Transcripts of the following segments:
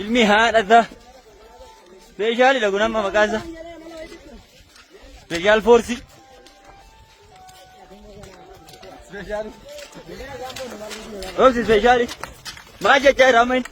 Ilmi haadha isaa. Meeshaalidha kun amma maqaan isaa. Meeshaal foorsii. Roobsi ispeeshaali. Maal jechaa jira amma inni?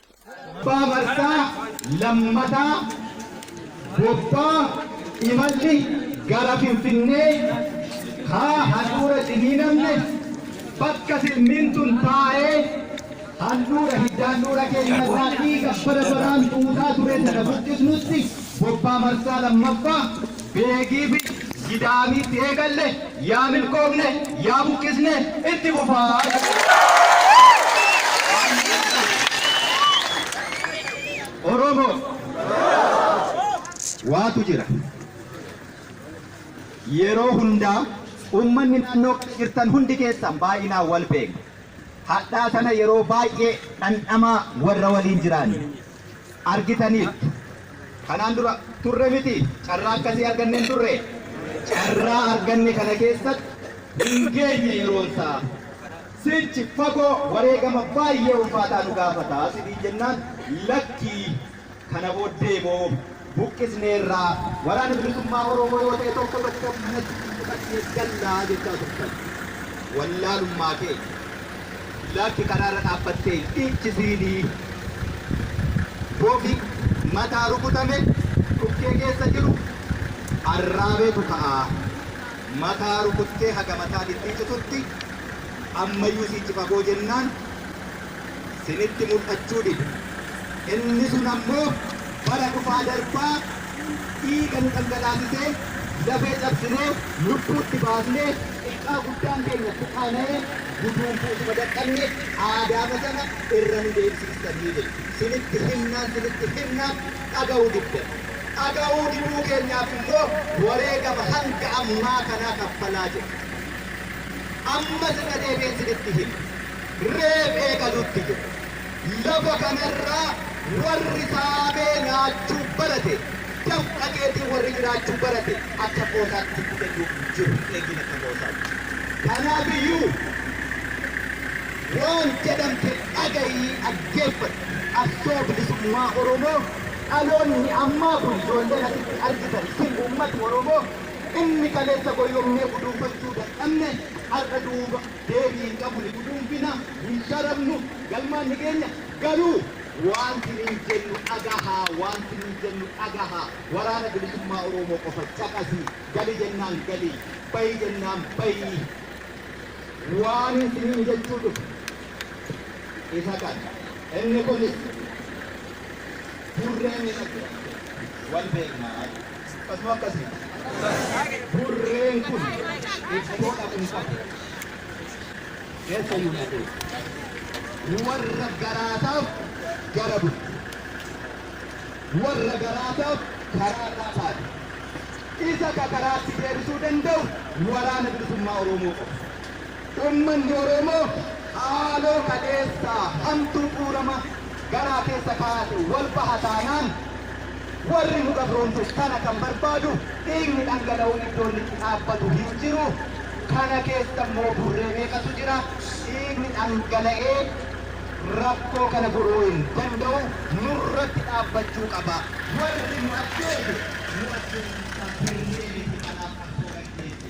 bbaa marsaa lammataa bobbaa imalli gara Finfinnee kaa handhuura ciniinamne bakka silmiin tun taa'ee handhuura hiddaandhuura keenya irraa dhiiga bara baraan xuuxaa ture tana buqqisnutti bobbaa marsaa lammaffaa Beegii fi Gidaabiitti eegalle yaa milkoofne yaa buqqisne itti fufaa jedha. Oromo waatu jira yeroo hundaa ummanni naannoo kana jirtan hundi keessan baay'inaan wal beekna hadhaa tana yeroo baay'ee dhandhamaa warra waliin jiraanne. argitaniittu. Kanaan dura turre mitii? Carraa akkasii arganne hin turree? Carraa arganne kana keessatti hin geenye yeroonsaa. Sichi fagoo wareegama baay'ee ulfaataa nu gaafata isiniin jennaan lakkii kana booddeemoo buqqisneerra, Waraana Bilisummaa Oromoo yoo ta'e tokko tokko manatti isin baqaqsine galla jechaa turtan. Wallaalummaa keenya. Lakki karaarra dhaabbattee hin dhiichisiini. Bofi mataa rukutame dhukkee keessa jiru arraabeetu ka'a. Mataa rukuttee haga mataan hin dhiicitutti ammayyuu siichi fagoo jennaan, sinitti mul'achuu dide. Inni sun ammoo bara dhufaa darbaa dhiiga nu dhangalaasisee, lafee cabsinee, lubbuu itti baafnee, xiqqaa guddaan keenya itti qaana'ee, guduunfuu utuma dadhabne aadaama sana irra nu deebisiistanii jedhe. Sinitti himnaan, sinitti himnaan dhaga'uu diddan. Dhaga'uu diduu keenyaaf immoo wareegama hanga ammaa kanaa kaffalaa jirra. Ammas irra deebi'een sinitti hima. reef eegaluutti jira. Lafa kanarraa warri saamee nyaachuu barate, dafqa keetiin warri jiraachuu barate akka qoosaatti fudhatu hin jiru, hin eegin akka qoosaatti. Kanaafiyyuu waan jedhamte dhagayii dhaggeeffadhu. Qabsoo Bilisummaa Oromoo dhaloonni ammaa kun ijoolleen asitti argitan isin uummati Oromoo inni kaleessa goyyomnee guduunfachuu dadhabne har'a duuba. deebii hin qabu ni guduunfina, ni sharafnu, galmaan ni geenya, garuu waanti nuyi jennu dhagahaa, waanti nuyi jennu dhagahaa, Waraana Bilisummaa Oroomoo qofa caqasi, gali jennaan gali, bahi jennaan bahi, waanin isiniin jechuu dhufe isa kana, inni kunis burree meeqa jiraachuu akka qabu wal beekna jechuudha. Suphatuu akkasii burreen kun iddoo dhaqu hin qabu. Eessa iyyuu hin adeemu. Warra garaasaaf gara bulti. Warra garaasaaf karaa irraa taati. Isa ka karaatti deebisuu danda'u Waraana Bilisummaa Oromoo qofa. Uummanni Oromoo haaloo kaleessaa hamtuu bu'uurama garaa keessa kaa'ate wal baha taanaan warri nu gabroomse kana kan barbaadu dhiigni dhangala'uun iddoo inni itti dhaabbatu hin jiru. Kana keessa immoo burree meeqatu jira. Dhiigni dhangala'ee rakkoo kana furuu hin danda'u. Nurratti dhaabbachuu qaba. Warri nu ajjeese nu ajjeesuun isaa sirrii miti. Kanaaf qabsoo gaggeessi.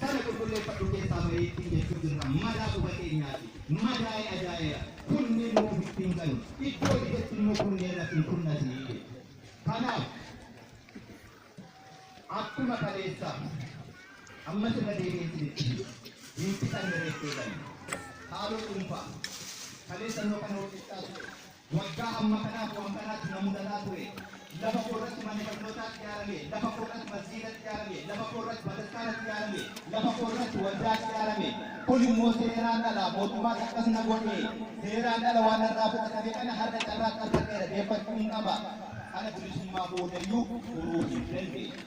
Sana qulqulleeffadhu keessaa bahi ittiin jechuu jirra. Madaa quba keenyaati. Madaa'e ajaa'eera. Kunneen immoo ofitti hin galu. Iddoo ijetti immoo kunneen irratti hin kunnati jechuudha. Kanaaf akkuma kaleessa ammas irra deebi'een isinitti hima. Hin fixanne reeffee gale. Haaloo dhuunfaa. Kaleessa immoo kan hojjechaa ture. Waggaa hamma kanaaf waan kanaatu na mudataa ture. Lafa koo irratti manni barnootaa ijaarame, lafa koo irratti masgiida ijaarame, lafa koo irratti bataskaana ijaarame, lafa koo irratti waldaa ijaarame. Kun immoo seeraan ala, mootummaan akkas na godhe, seeraan ala waan narraa fudhatame kana har'a carraatti argadheera, deeffachuun qaba. Kana bilisummaa boodayyuu furuu hin dandeenye.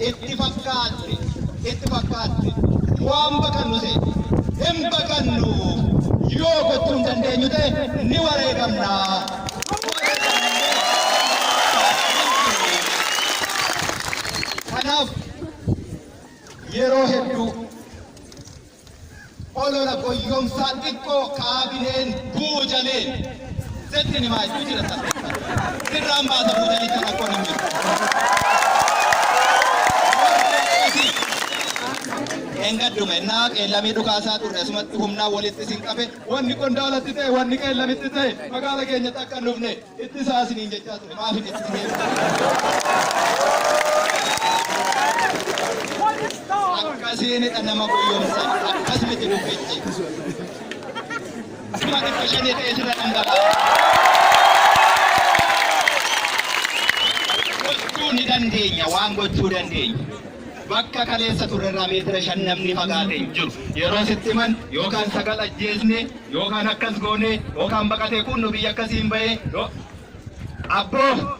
Itti fakkaatte, itti fakkaatte. Waan baqannu seete. Hin baqannu. Yoo gochuu hin dandeenyu ta'e ni wareegamna. Kanaaf yeroo hedduu Olola goyyomsaa xiqqoo kaabineen buujaleen setti nimaa iddoo jira salpheeffadhu. Sirraan baasa buujalicha rakkoon hin jiru. Warri akkasii dheengadduma ennaa qeellamii dhukaasaa turre asumatti humnaan walitti isin qabe wanni qondaalatti ta'e wanni qeellamitti ta'e magaala keenyatti akka hin dhufne Ittisaa isiniin jechaa ture maaf hin ittisee? Akkasiinidha nama goyyomsan akkas miti dubbichi. Kuma dhibba shanii ta'ee sirra dhangalaa'a. Gochuu ni dandeenya waan gochuu dandeenya. Bakka kaleessa turrerraa meetira shan namni fagaate hin jiru. Yeroo sitti himan yookaan sagal ajjeesne Yoo kaan akkas goonee yoo kaan baqatee kuunno biyya akkasiin bahee yoo Abboo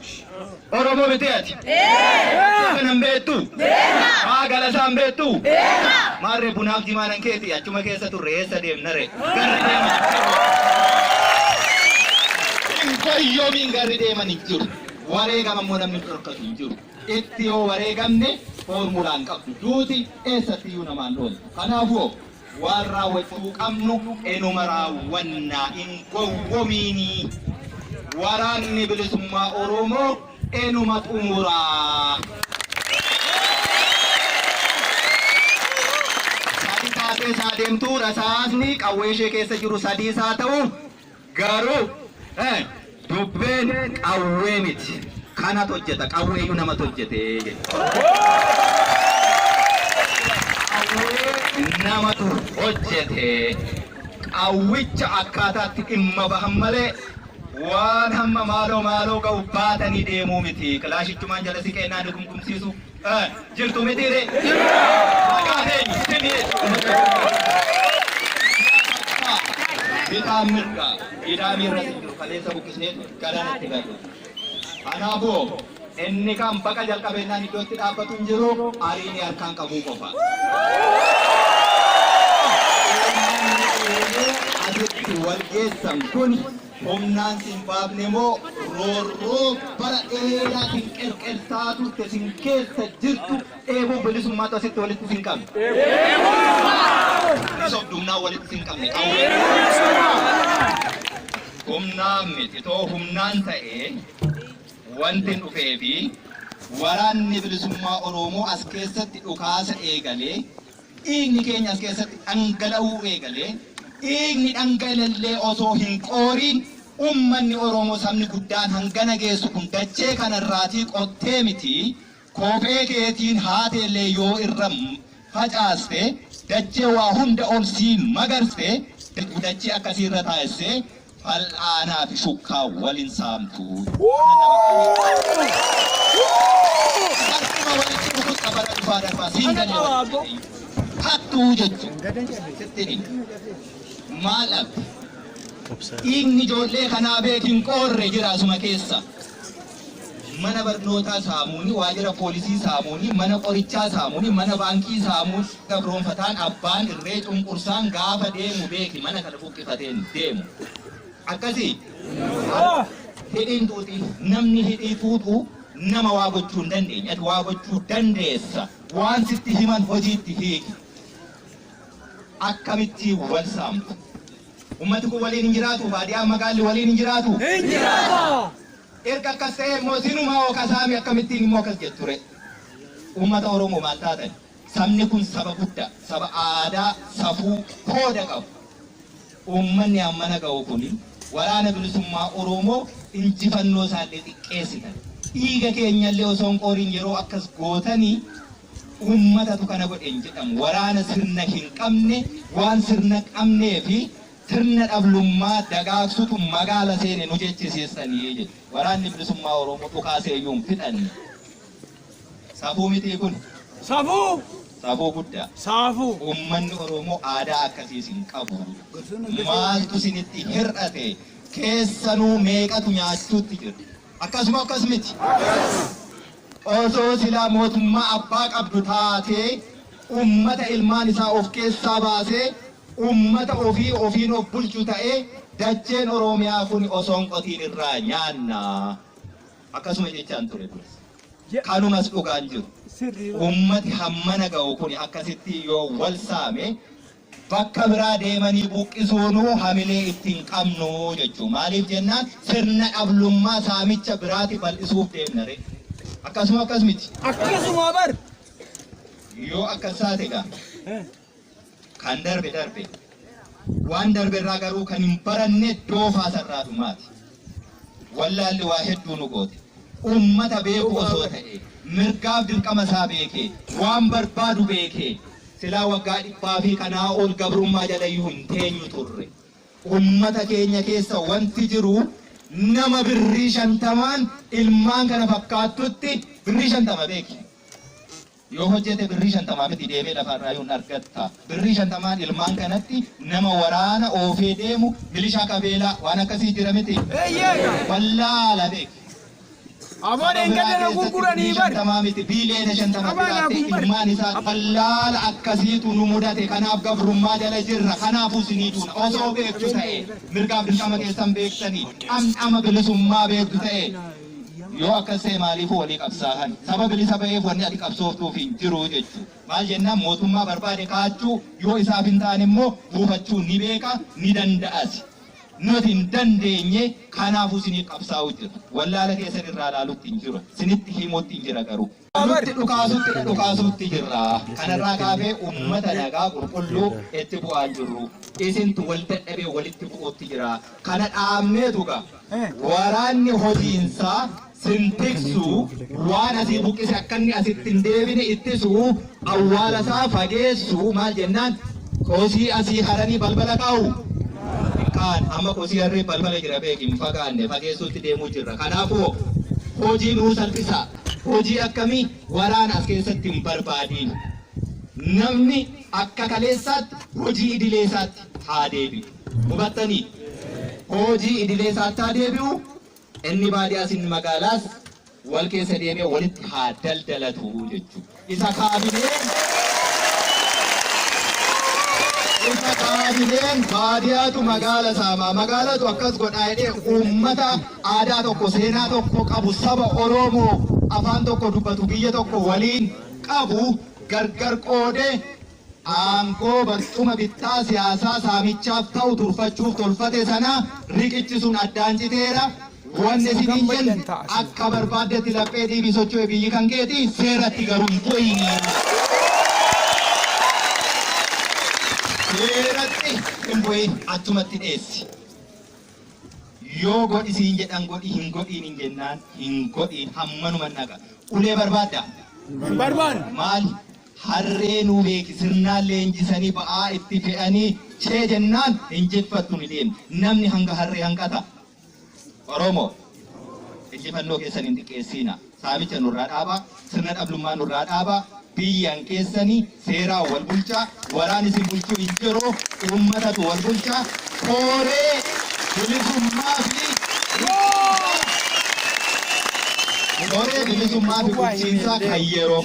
Oromoo mitee ati? Beena! Kana hin beektu? Beena! Haa galasaa hin beektu? Beena! Maarree bunaaf jimaanan keeti achuma keessa turre eessa deemnare? Garri deeman hin fayyoomiin garri deeman hin jiru. Wareegama immoo namni hin dhorkatu hin jiru. Itti yoo wareegamne foormulaa hin qabdu. Duuti eessatti iyyuu namaan dhoomtu. Kanaafuu Waan raawwachuu qabnu enuma raawwanna hin gowwomiinii. Waraanni Bilisummaa Oromoo enuma xumura. Sadi taatee saa deemtuu rasaasni qawwee ishee keessa jiru sadiis haa ta'u Garuu dubbeen qawwee miti. Kanatu hojjeta. Qawweeyyuu namatu hojjete Qawwee namatu hojjete. Qawwicha akkaataatti dhimma bahan malee waan hamma maaloo maaloo ga'u baatanii deemuu miti. Kilaashichumaan jala siqeennaan ni kumkumsiisu. Jirtu mitii ree? Maqaan eenyu? Simi jechuudha. Bitaan mirga gidaamii irra jiru kaleessa buqqisee ture galaan itti gadu. Kanaafuu inni kan baqa jalqabeenyaan iddoo itti dhaabbatu hin jiru ariini harkaan qabuu qofa. Asitti wal geessan kun Humnaan si hin baafne moo roorroo bara dheeraatiin qerqersaa turte sin keessa jirtu dheebuu bilisummaatu asitti walitti sin qabe? Hin sobdu humnaan walitti sin qabne qawwee. Humnaan miti too humnaan ta'ee wantin dhufeefi waraanni bilisummaa Oroomoo as keessatti dhukaasa eegalee Dhiigni keenya as keessatti dhangala'uu eegalee, dhiigni dhanga'lellee osoo hin qooriin ummanni Oromoo sabni guddaan hangana geessu kun dachee kana irraatii qottee miti kophee keetiin haateellee yoo irra facaaste dachee waa hunda ol sii magarste dachee akkasii irra taa'essee Fal'aanaa fi shukkaa wal hin saamtu. Mana nama qaanii. Salphuma walitti dhukutta bara dhufaa darbaa siin galee walitti jedhee. Hattuu jechuun sitti himi. Maal dhabde? Dhiigni ijoollee kanaa beeki hin qoorre jira asuma keessa. mana barnootaa saamuuni, waajira poolisii saamuuni, mana qorichaa saamuuni, mana baankii saamuun gabroomfataan abbaan irree cunqursaan gaafa deemu beeki mana kana buqqifateen deemu. Akkasii? Hidhiin xuuxii. Namni hidhii xuuxu nama waa gochuu hin dandeenye. Ati waa gochuu dandeessa. Waan sitti himan hojiitti hiiki. Akkamitti wal saamtu? Ummati kun waliin hin jiraatu? Baadiyaan magaalli waliin hin jiraatu? Hin jiraata! Erga akkas ta'ee immoo sinumaa hoo ka saame akkamittiin immoo akkas jettu ree? Uummata Oromoo maal taatan? Sabni kun saba guddaa, saba aadaa, safuu, kooda qabu. Uummanni ammana ga'u kun Waraana Bilisummaa Oromoo injifannoo isaa illee xiqqeessitan. Dhiiga keenya illee osoo hin qooriin yeroo akkas gootanii uummatatu kana godhe hin jedhamu. Waraana sirna hin qabne waan sirna qabnee fi sirna dhablummaa dagaagsutu magaala seene nu jechisiistani jedhe. Waraanni Bilisummaa Oromoo dhukaasee iyyuu hin fixanne. Safuu mitii kun? Safuu! Safuu guddaa. Saafuu! Uummanni Oromoo aadaa akkasii isin qabu. Maaltu isinitti hir'ate? Keessanuu meeqatu nyaachuutti jira? Akkas moo akkas miti? Osoo silaa mootummaa abbaa qabdu taatee uummata ilmaan isaa of keessaa baasee Uummata ofii ofiin of bulchu ta'ee dacheen Oroomiyaa kun osoo hin qotiin irraa nyaanna. Akkasuma jechaan ture duras. Kanumas dhugaan jiru. Uummati hammana ga'u kuni akkasittii yoo wal saame bakka biraa deemanii buqqisuunuu hamilee itti hin qabnu jechuu. Maaliif jennaan sirna dhablummaa saamicha biraati bal'isuuf deemna ree. Akkasuma akkas miti. Akkasuma bar! Yoo akkas taate gaa. Kan darbe darbe. Waan darbe irraa garuu kan hin baranne doofaa sarraatu maati. Wallaalli waa hedduu nu goote. Uummata beeku osoo ta'e, mirgaaf dirqama isaa beekee, waan barbaadu beekee, silaa waggaa dhibbaa fi kanaa ol gabrummaa jala iyyuu hin teenyu turre. Uummata keenya keessa wanti jiru nama birrii shantamaan ilmaan kana fakkaattutti birrii shantama beeki. Yoo hojjete birrii shantama miti deemee lafa irraayuu hin argatta. Birrii shantamaan ilmaan kanatti nama waraana oofee deemu milishaa qabeelaa waan akkasii jira miti. Wallaala beeki. Saba biraa keessatti birrii shantamaa miti biiliyoona shantama jiraattee ilmaan isaa wallaala akkasiitu nu mudate kanaaf gabrummaa jala jirra kanaafuu sinii duuna osoo beektu ta'e mirgaaf dirqama keessan beektanii dhamdhama bilisummaa beektu ta'e Yoo akkas ta'e maaliifuu walii qabsaahan? Saba bilisa ba'eef wanni ati qabsooftuuf hin jiru jechu. Maal jennaan mootummaa barbaade kaachuu yoo isaaf hin taane immoo buufachuu ni beeka ni danda'asi. Nuti hin dandeenye kanaafuu siniif qabsaa'uu jirra. Wallaala keessan irraa laalutti hin jiru. Sinitti himuuttin jira garuu. Nutti dhukaasuutti dha dhukaasuutti jirra. Kana irraa kaafee uummata nagaa qulqulluu itti bu'aa hin jirru. Isintu wal dadhabee walitti bu'uutti jira. Kana dhaabneetu ga waraanni hojiinsaa sin tiksu waan asii buqqise akka inni asitti hin deebine ittisu awwaala isaa fageessu maal jennaan kosii asii haranii balbala kaa'u. Kaan amma kosii harree balbala jira beeki hin fagaanne fageessuutti deemuu jirra. Kanaafuu hojii nuu salphisa. Hojii akkamii? Waraana as keessatti hin barbaadiina. Namni akka kaleessaatti hojii idilee isaatti haa deebi'u. Hubattanii? Hojii idilee isaatti haa deebi'u, inni baadiyaas inni magaalaas wal keessa deemee walitti haa daldalatu jechuudha. Isa kaabineen Isa kaabineen baadiyaatu magaala saama, magaalatu akkas godha jedhee uummata aadaa tokko, seenaa tokko qabu, saba Oromoo afaan tokko dubbatu, biyya tokko waliin qabu gargar qoodee aangoo barcuma bittaa siyaasaa saamichaaf ta'u turfachuuf tolfate sana riqichi sun addaan citeera. Wanni isin hin jenne akka barbaaddetti laphee dhiibii socho'e biyyi kan keeti seeratti garuu hin bu'iini. Seeratti hin bu'iin achumatti dheessi. Yoo godhi siin jedhan godhi hin godhiin hin jennaan hin godhiin hammanuma dhaqa. Ulee barbaadda? Hin barbaanne. Maali? Harree nuu beeki sirnaan leenjisanii ba'aa itti fe'anii cee jennaan hin jiffattu ni deemti. Namni hanga harree hanqata? Oromoo! Injifannoo keessan hin xiqqeessiinaa. Saamicha nurraa dhaabaa, sirna dhablummaa nurraa dhaabaa, biyyan keessani seeraan wal bulchaa, waraan isin bulchuu hin jiru, uummatatu wal bulcha, kooree bilisummaa fi bulchiinsaa, kooree bilisummaa fi bulchiinsaa kan yeroo.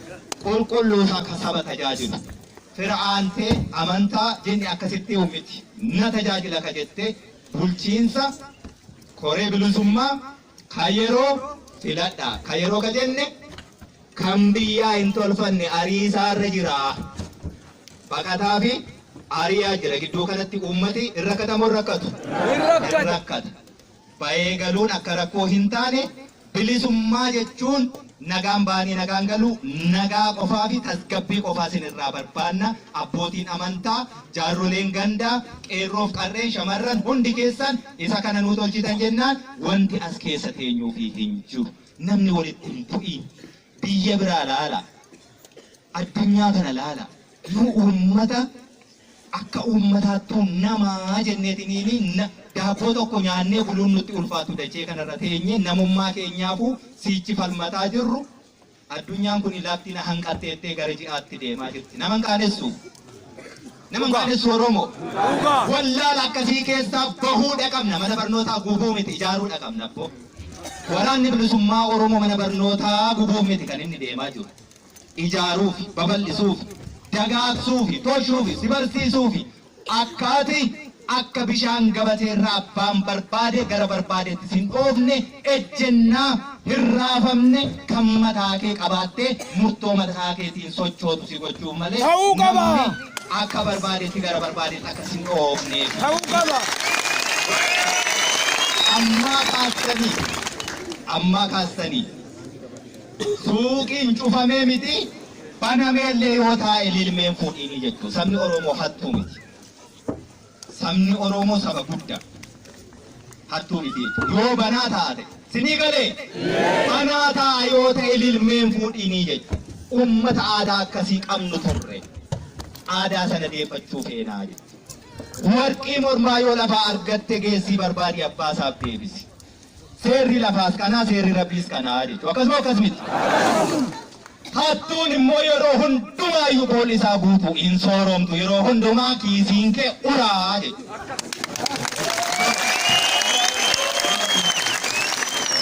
Qulqulluu takka saba tajaajilu. Fira aantee, amantaa, jinni akkasitti uummiti na tajaajila ka jette bulchiinsa, koree bilisummaa, ka yeroo filadha. Ka yeroo ka jenne kan biyyaa hin tolfanne ariisaa irra jira. Baqataa fi ariyaa jira. Gidduu kanatti uummati hin rakkatamoo hin rakkatu? Hin rakkata. Ba'ee galuun akka rakkoo hin taane, bilisummaa jechuun nagaan ba'anii nagaan galuu, nagaa qofaa fi tasgabbii qofaa isin irraa barbaanna, abbootiin amantaa, jaarroleen gandaa, qeerroo fi qarreen, shamarran hundi keessan isa kana nuu tolchitan jennaan wanti as keessa teenyuufii hin jiru. Namni walitti hin bu'iin. Biyya biraa laalaa. Addunyaa kana laalaa. Nu uummata Akka uummataattuu nama jenneetiniini na, daabboo tokko nyaannee buluun nutti ulfaatu dachee kanarra teenyee namummaa keenyaafu siichi falmataa jirru addunyaan kuni lafti na hanqatteettee gara ji'aatti deemaa jirti. Nama hin qaanessu? Nama hin qaanessu Oromoo? Wallaala akkasii keessaa bahuudha qabna. Mana barnootaa gubuu miti ijaaruudha qabna abboo. Waraanni bilisummaa Oromoo mana barnootaa gubuuf miti kan inni deemaa jiru. ijaaruufi babal'isuufi dagaagsuufi toshuufi si barsiisuufi akka ati akka bishaan gabateerra abbaan barbaade gara barbaadetti sin oofne ejjennaa hin raafamne kan mataakee qabaattee murtoo mataakeetiin sochootu si gochuuf malee Ta'uu qaba! namni akka barbaadetti gara barbaadetti akka sin oofneef Ta'uu qaba! ammaa kaastanii ammaa kaastanii Suuqiin cufamee miti banameellee yoo taa'e lilmee hin fuudhiini jechuun sabni Oromoo hattuu miti. Sabni Oromoo saba gudda. Hattuu miti jechuun yoo banaa taate sinii galee banaa taa'a yoo ta'e lilmee hin fuudhiini jechuun uummata aadaa akkasii qabnu turre aadaa sana deeffachuu feenaa jechuun. Warqii mormaa yoo lafaa argatte geessii barbaadi abbaa isaaf deebisi. Seerri lafaas kanaa, seerri Rabbiis kanaa jechuudha. Akkasuma akkas miti. Hattuun immoo yeroo hundumaa iyyuu boolli isaa guutuu hin sooromtu. Yeroo hundumaa kiisiin kee uraa jechuudha.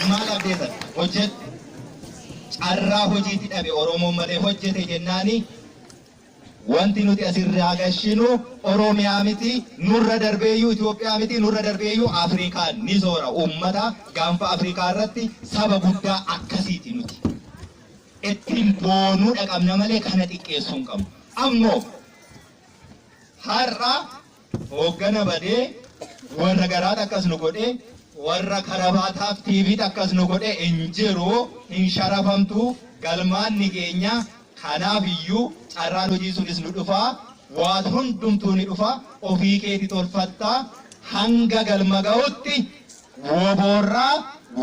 Maal abdeessan? Hojjetu. Carraa hojiitti dhabe Oromoon malee hojjete jennaanii Wanti nuti as irraa gashinu Oromiyaa miti, nurra darbeeyyuu Itoophiyaa miti, nurra darbeeyyuu Afrikaa ni soora. Uummata gaanfa Afrikaa irratti saba guddaa akkasiiti nuti. Ittiin boonuudha qabna malee kana xiqqeessuu hin qabnu. Ammoo har'a Hooggana badee warra garaat akkas nu godhe, warra karabaataaf TVt akkas nu godhe hin jiru, hin sharafamtu, galmaan ni geenya, kanaaf iyyuu carraan hojii sunis nu dhufa, waan hundumtuu ni dhufa, ofii keeti tolfatta, hanga galma ga'utti wbo irraa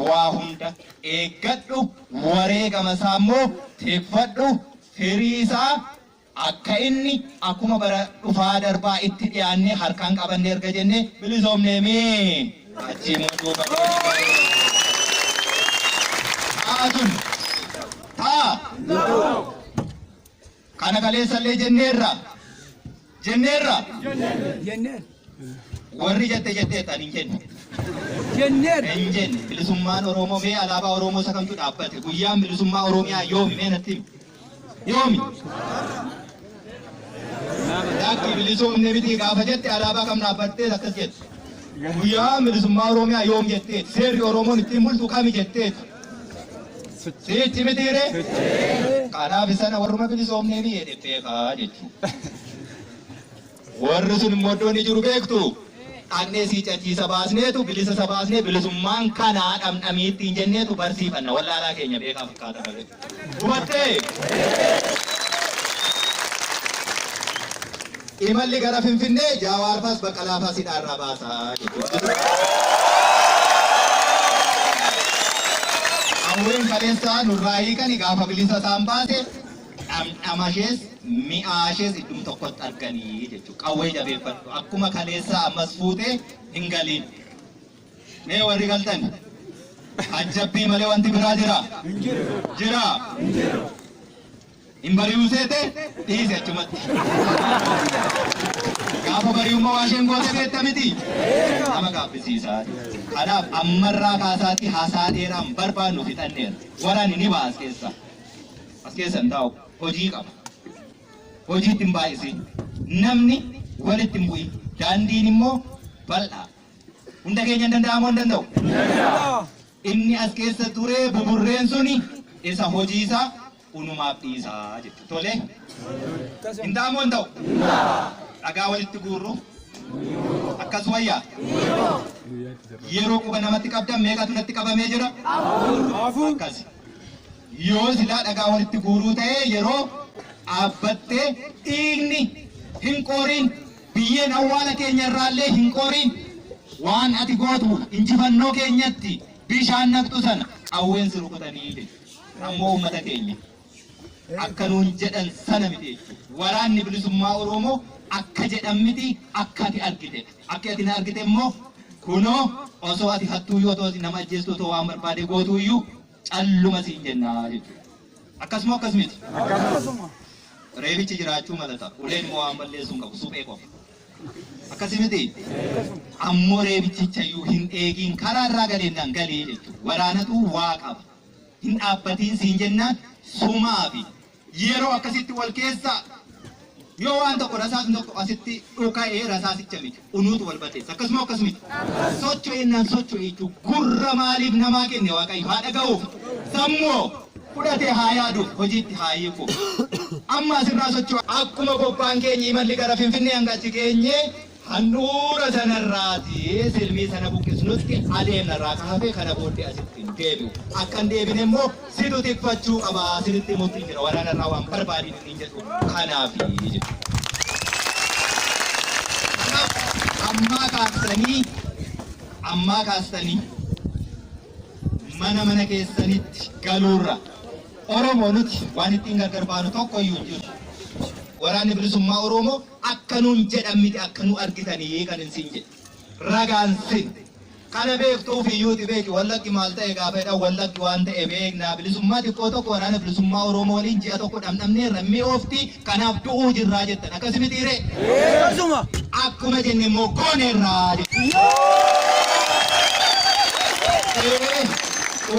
waa hunda eeggadhu, wareegama isaa immoo tikfadhu, firii isaa. Akka inni, akkuma bara dhufaa darbaa itti dhiyaannee harkaan qabanne erga jennee bilisoomneemii achii immoo duuba deebinee ta'a sun ta'a kana kaleessa illee jenneerra jenneerra Jenneen. warri jette jetteetta ani hin jenne Jenneen. hin jenne bilisummaan Oromoo mee alaabaa Oromoo isa kamtu dhaabbate guyyaan bilisummaa Oromiyaa yoomi mee natti himi. Yoomi? Daakki bilisoomne miti gaafa jette alaabaa kam dhaabbattee akkas jette. Guyyaa bilisummaa Oromiyaa yoom jetteeti? Seerri Oromoon ittiin bultu kami jetteeti? Siitti mitiire? Kanaaf sana warruma bilisoomnee biyya jetteekaa jechuudha. Warri sun immoo iddoo inni jiru beektuu? Dhaqnee siicachiisa baasneetu bilisa isa baasnee bilisummaan kanaa dhamdhamii ittiin jenneetu barsiifanna. Wallaalaa keenya beekaa fakkaata malee. Hubattee? Imalli gara Finfinnee Jaawaar faas Baqqalaa faas hidhaa irraa baasa jechuudha. Qawween kaleessaa nurraa hiikani gaafa bilisa isaan baase dhamdhamashees mi'aashees iddum tokkotti argani jechuudha. Qawwee jabeeffadhu. Akkuma kaleessaa ammas fuutee hin galiin. Mee warri galtan ajjabbii malee wanti biraa jira? Jira? Hin bari'uu seete dhiise achumatti. Gaafa bari'ummaa waa isheen goote beekta miti. Nama gaabbisiisaa. Kanaaf ammarraa kaasaatii haasaa dheeraan barbaannu fixanneera. Waraanni ni baas keessa. As keessa hin taa'u. Hojii qaba. Hojiitti hin baay'isin. Namni walitti hin bu'in. Daandiin immoo bal'aa. Hunda keenya hin danda'amu hin danda'u. Inni as keessa turee buburreen suni isa hojii isaa unumaaf dhiisaa jechuudha. Tolee? Hin ta'amu hin ta'u. Dhagaa walitti guurru. Akkas wayyaa. Yeroo quba namatti qabdan meeqatu natti qabamee jira? Akkasi. Yoo silaa dhagaa walitti guuruu ta'ee yeroo dhaabbatte dhiigni hin qooriin, biyyeen awwaala keenya irraallee hin qooriin. Waan ati gootu injifannoo keenyatti bishaan naqxu sana qawween si rukutanii jedhe. Ammoo uummata keenya akka nuun jedhan sana miti jechuudha. Waraanni bilisummaa Oromoo akka jedhan miti akka ati argite. Akka ati na argite immoo kunoo osoo ati hattuu yoo ta'u nama ajjeestuu ta'u waan barbaade gootu iyyuu calluma siin jenna jechuudha. Akkas moo akkas miti? Akkasuma. Reebichi jiraachuu mala ta'a. Uleen immoo waan balleessu hin qabu. Suphee qofa. Akkasi miti? Ammoo reebichicha iyyuu hin eegiin karaa irraa galeennaan galii jechuudha. Waraanatu waa qaba. Hin dhaabbatiin siin jennaan sumaa fi Yeroo akkasitti wal keessaa yoo waan tokko rasaasni tokko asitti dhuka'ee rasaasicha miti unuutu wal balleessa akkasuma akkas miti socho'innaan socho'e jechuu gurra maaliif namaa kenne waaqayyo haa dhaga'uuf sammuu fudhatee haa yaaduuf hojiitti haa hiikuuf amma asirraa socho'a. Akkuma bobbaan keenya imalli gara Finfinnee hanga achi geenye Handhuura sanarraati silmii sana buqqisnutti adeemna irraa ka hafe kana booddee asitti hin deebi'u. Akka hin deebine immoo situ tikfachuu qaba, sinitti himuuttin jira waraana irraa waan barbaadiin isiniin jedhu kanaafi jedhu. Kanaaf ammaa kaastanii ammaa kaastanii mana mana keessanitti galuurra Oromoo nuti waan ittiin gargar baanu tokko iyyuu hin jiru. Waraanni Bilisummaa Oromoo Akka nuun jedhan miti akka nu argitanii kanin siin jedhe. Ragaan sin. Kana beektu ofii iyyuuti beeki Wallaggi maal ta'e gaafa jedhan Wallaggi waan ta'e beekna bilisummaa xiqqoo tokko waraana bilisummaa Oromoo waliin ji'a tokko dhamdhamneerra hin mi'oofti kanaaf du'uu jirraa jettan akkasi mitii ree? Akkasuma! Akkuma jenne immoo gooneerra jettan.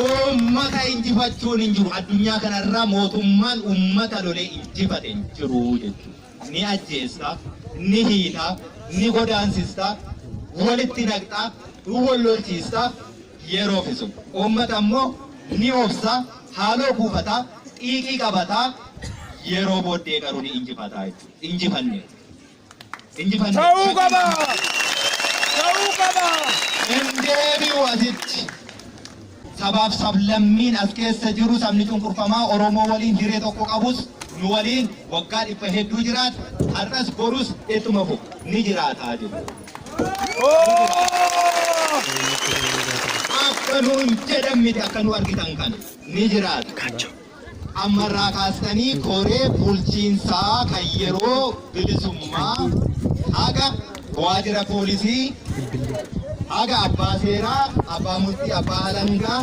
Uummata injifachuun hin jiru addunyaa kanarra mootummaan uummata lolee injifate hin jiru jechuudha. ni ajjeesta, ni hiita, ni godaansista, walitti naqxa, wal lolchiista, yeroo fisu. Uummata immoo ni obsa, haaloo kuufata, xiiqii qabata, yeroo booddee garuu ni injifata jechuudha. Injifanne. Injifanne. Ta'uu qaba! Ta'uu qaba! Hin deebi'u asitti. Sabaaf sablammiin as keessa jiru sabni cunqurfamaa Oromoo waliin hiree tokko qabus nu waliin waggaa dhibba hedduu jiraata, har'as borus ittuma fufa, ni jiraata jedhu. Akka nuun jedhan miti akka nu argitan kana ni jiraata. Amma irraa kaastanii koree bulchiinsaa kan yeroo bilisummaa haga waajjira poolisii haga abbaa seeraa, abbaa murtii, abbaa alangaa,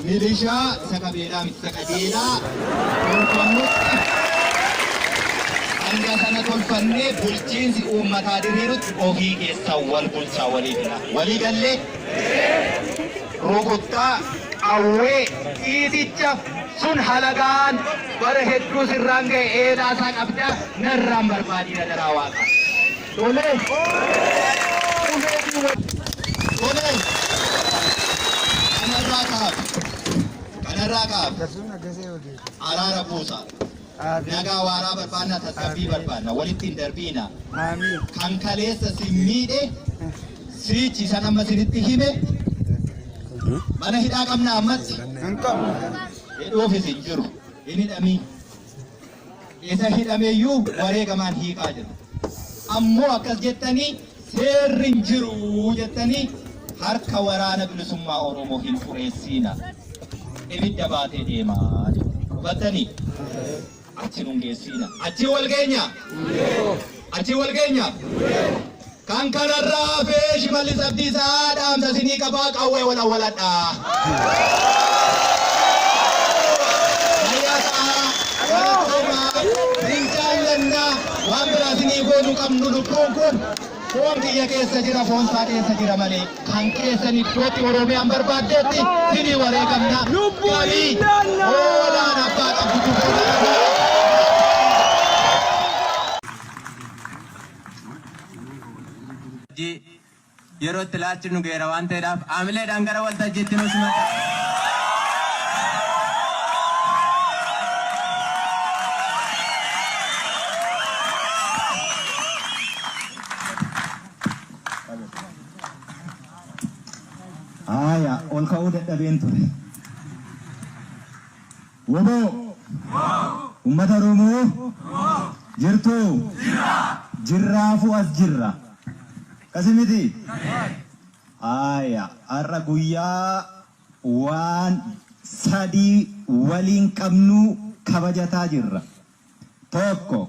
milishaa isa qabeelaa miti isa qajeelaa tolfamutti hanga sana tolfannee bulchiinsi uummataa diriirutti ofii keessan wal bulchaa walii gala. Walii gallee? rukuttaa, qawwee, dhiiticha, sun halagaan bara hedduu sirraan gahe eelaa isaa qabda narraan barbaadii adaraa waaqa. Tolee. Qubeetiin wal. Tolee. Kanarraa kaaf. Kanarraa kaaf. Araara buusa. Nagaa waaraa barbaanna, tasgabbii barbaanna, walitti hin darbiina. Kan kaleessa sin miidhe, siichi san amma sinitti hime, mana hidhaa qabna ammatti. Hidhuufis hin jiru, hin hidhamiin. Isa hidhameyyuu wareegamaan hiikaa jiru. Ammoo akkas jettanii Seerri hin jiru jettanii harka waraana bilisummaa Oromoo hin xureessiina. Ibidda baatee deema jette. Hubattanii? Achi nun geessiina. Achi wal geenya? Achi wal geenya? Kan kanarraa hafee Shimallis Abdiisaa dhaamsa isinii qabaa qawwee wal awwaladhaa. Fayyaa ta'aa, walitti deemaa, hin jaallannaa. Waan biraa isinii goonu qabnu lubbuun kun foon kiyya keessa jira foon isaa keessa jira malee kan keessan iddootti Oromiyaan barbaaddeetti isinii wareegamna gabii hoolaan abbaa qabdutu booda dhagaa. Jee Yeroo itti ilaalchi nu gaheera waan ta'eedhaaf haamileedhaan gara waltajjiitti nu simadhaa. Haaya, ol ka'uu dadhabeen ture. Wbo! Ummata Oromoo! Jirtuu? Jirraafuu as jirra. Akkasi miti? Haaya, har'a guyyaa waan sadii waliin qabnu kabajataa jirra. Tokko,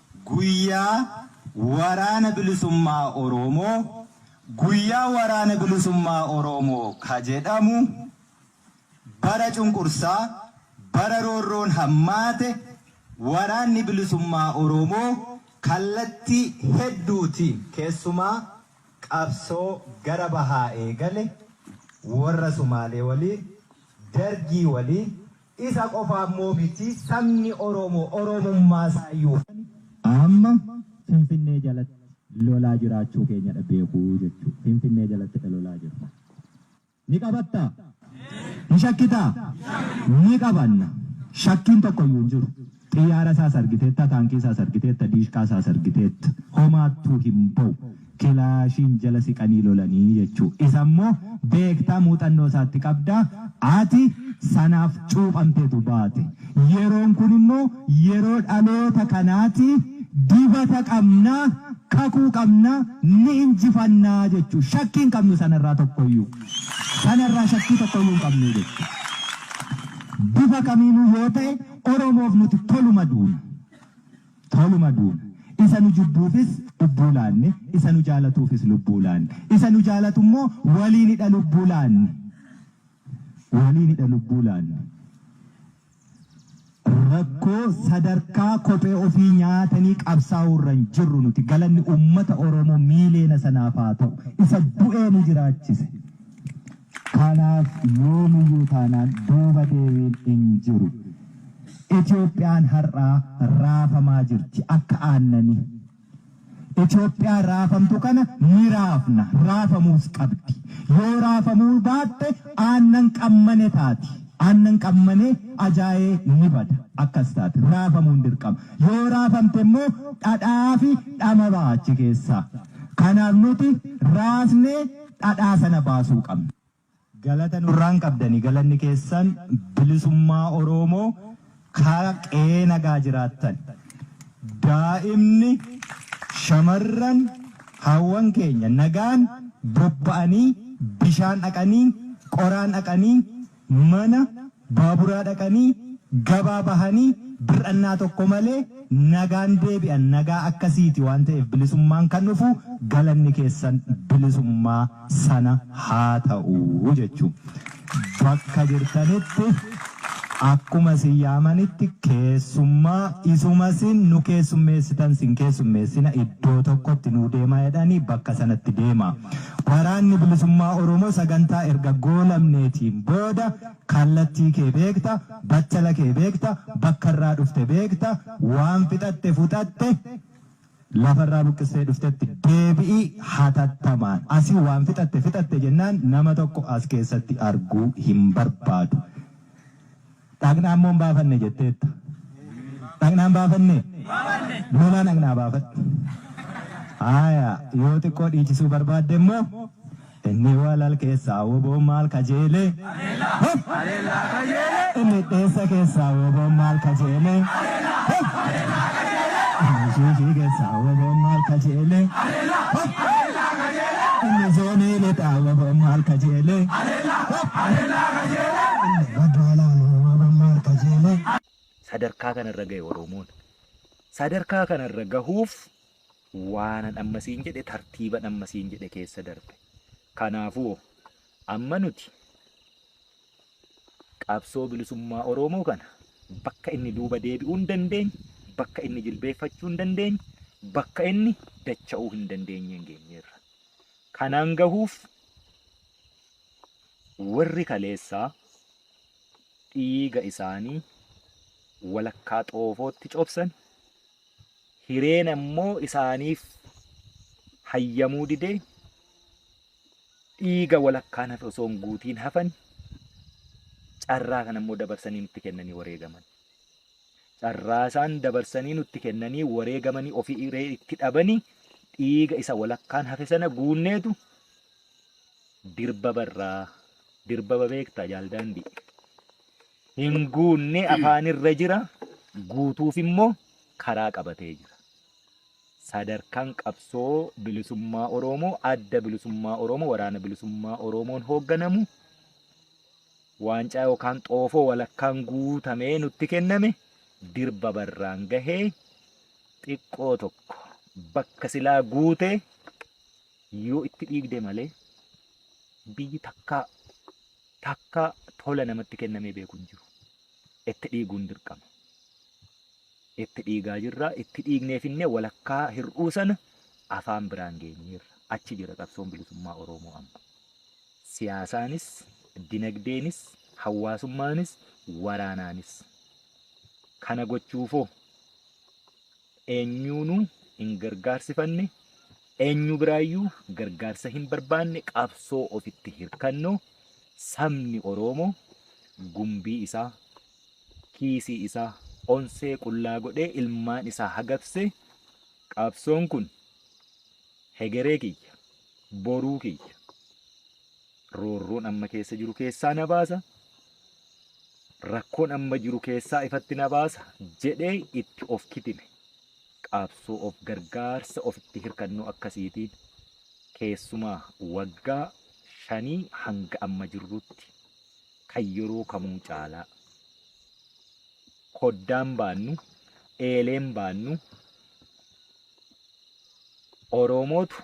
Guyyaa waraana bilisummaa Oroomoo guyyaa waraana bilisummaa Oroomoo ka jedhamu bara cunqursaa, bara roorroon hammaate waraanni bilisummaa Oroomoo kallattii hedduutiin keessumaa qabsoo gara bahaa eegale worra Sumaalee waliin, Dargii waliin, Isa qofa ammoo miti sabni Oromoo Oromummaa isaayyuu kan amma Finfinnee jalatti lolaa jiraachuu keenyadha beeku jechuudha. Finfinnee jalattidha lolaa jirru. Ni qabattaa? Ni shakkitaa? Ni qabanna. Shakkiin tokkoyyuu hin jiru. Xiyyaara isaas argiteetta, taankii isaas argiteetta, diishqaa isaas argiteetta. Homaattuu hin ba'u. Kilaashiin jala siqanii lolanii jechuu. Isa immoo beekta, muuxannoo isaatti qabda. Ati sanaaf cuuphamteetu baate. Yeroon kun immoo yeroo dhaloota kanaati. Dibata qabna, kakuu qabna, ni injifanna jechuu. Shakkii hin qabnu sanarraa tokkoyyuu. Sanarraa shakkii tokkoyyuu hin qabnu jechuu. Bifa kamiinuu yoo ta'e. Oromoof nuti toluma duuna. Toluma duuna. Isa nu jibbuufis lubbuu laanne, isa nu jaalatuufis lubbuu laanne. Isa nu jaalatu immoo waliinidha lubbuu laanne. Waliinidha lubbuu laanne. Rakkoo sadarkaa kophee ofii nyaatanii qabsaa'uu irra hin jirru nuti. Galanni uummata Oromoo miiliyoona sanaaf haa ta'u. Isa du'ee nu jiraachise. Kanaaf yoomiyyuu taanaan duuba deebiin hin jiru. Itoophiyaan har'aa raafamaa jirti akka aannanii. Itoophiyaa raafamtu kana ni raafna, raafamuus qabdi. Yoo raafamuu baatte aannan qammane taati. Aannan qammanee ajaa'ee ni bada. Akkas taati. Raafamuun dirqama. Yoo raafamte immoo dhadhaafi dhama baha achi keessaa. Kanaaf nuti raasnee. dhadhaa sana baasuu qabna. Galata nurraa hin qabdani galanni keessan bilisummaa oroomo ka qe'ee nagaa jiraattan daa'imni shamarran haawwan keenya nagaan bobba'anii bishaan dhaqanii qoraan dhaqanii Mana baaburaa dhaqanii, gabaa bahanii, bir'annaa tokko malee nagaan deebi'an. Nagaa akkasiiti waan ta'eef bilisummaan kan dhufu galanni keessan bilisummaa sana haa ta'u jechuun bakka jirtanitti akkuma isin yaamanitti keessummaa isuma isin nu keessummeessitan isin keessummeessina iddoo tokkotti nuu deemaa jedhanii bakka sanatti deemaa. Waraanni Bilisummaa Oromoo sagantaa erga goolabneetiin booda kallattii kee beekta, battala kee beekta, bakka irraa dhufte beekta, waan fixatte fuxatte lafa irraa buqqistee dhuftetti deebi'i hatattamaan. Asii waan fixatte fixatte jennaan nama tokko as keessatti arguu hin barbaadu. Dhaqnaan moo hin baafanne jetteetta? Dhaqnaa hin baafannee? Lolaa dhaqnaa baafadhu. Haaya, yoo xiqqoo dhiichisuu barbaadde immoo inni walal keessaa woboon maal kajeele? Hop! Inni dheessa keessaa woboon maal kajeele? Hop! Inni shiishii keessaa woboon maal kajeele? Hop! Inni zoonii lixaa woboon maal kajeele? Hop! Haleellaa Kajeelee! Madaalaan Uumamaan Maal Kajeele? Sadarkaa kana irra gahe Oromoon. Sadarkaa kana irra gahuuf waanan amma siin jedhe tartiiban amma siin jedhe keessa darbe. Kanaafuu amma nuti qabsoo bilisummaa Oromoo kana bakka inni duuba deebi'uu hin dandeenye, bakka inni jilbeeffachuu hin dandeenye, bakka inni dacha'uu hin dandeenyeen geenyeerra. Kanaan gahuuf Warri kaleessaa dhiiga isaanii walakkaa xoofootti cobsan, hireen ammoo isaaniif hayyamuu didee dhiiga walakkaan hafe osoo hin guutiin hafan, carraa kana immoo dabarsanii nutti kennanii wareegaman. Carraa isaan dabarsanii nutti kennanii wareegamanii ofii hiree itti dhabanii dhiiga isa walakkaan hafe sana guunneetu dirbaba irraa dirbaba beektaa jaal daandii hin guunne afaan irra jira guutuuf immoo karaa qabatee jira. Sadarkaan qabsoo bilisummaa Oromoo adda bilisummaa Oromoo waraana bilisummaa Oromoon hoogganamu waancaa yookaan xoofoo walakkaan guutamee nutti kenname dirbaba irraan gahee xiqqoo tokko bakka silaa guute yoo itti dhiigde malee biyyi takkaa takkaa tola namatti kennamee beeku hin jiru. Itti dhiiguun dirqama. Itti dhiigaa jirra. Itti dhiignee finnee walakkaa hir'uu sana afaan biraan geenyeerra. Achi jira qabsoon bilisummaa Oromoo amma. Siyaasaanis, dinagdeenis, hawaasummaanis, waraanaanis. Kana gochuufoo eenyuunuu hin gargaarsifanne, eenyu biraayyuu gargaarsa hin barbaanne qabsoo ofitti hirkannoo sabni Oroomo gumbii isaa, kiisii isaa onsee qullaa godhee ilmaan isaa hagabse qabsoon kun hegeree kiyya, boruu kiyya, roorroon amma keessa jiru keessaa na baasa, rakkoon amma jiru keessaa ifatti na baasa jedhee itti of kitime. Qaabsoo of gargaarsa ofitti hirkannoo akkasiitiin keessumaa waggaa shanii hanga amma jirrutti kan yeroo kamuu caalaa koddaan baannu, eeleen baannu, Oromootu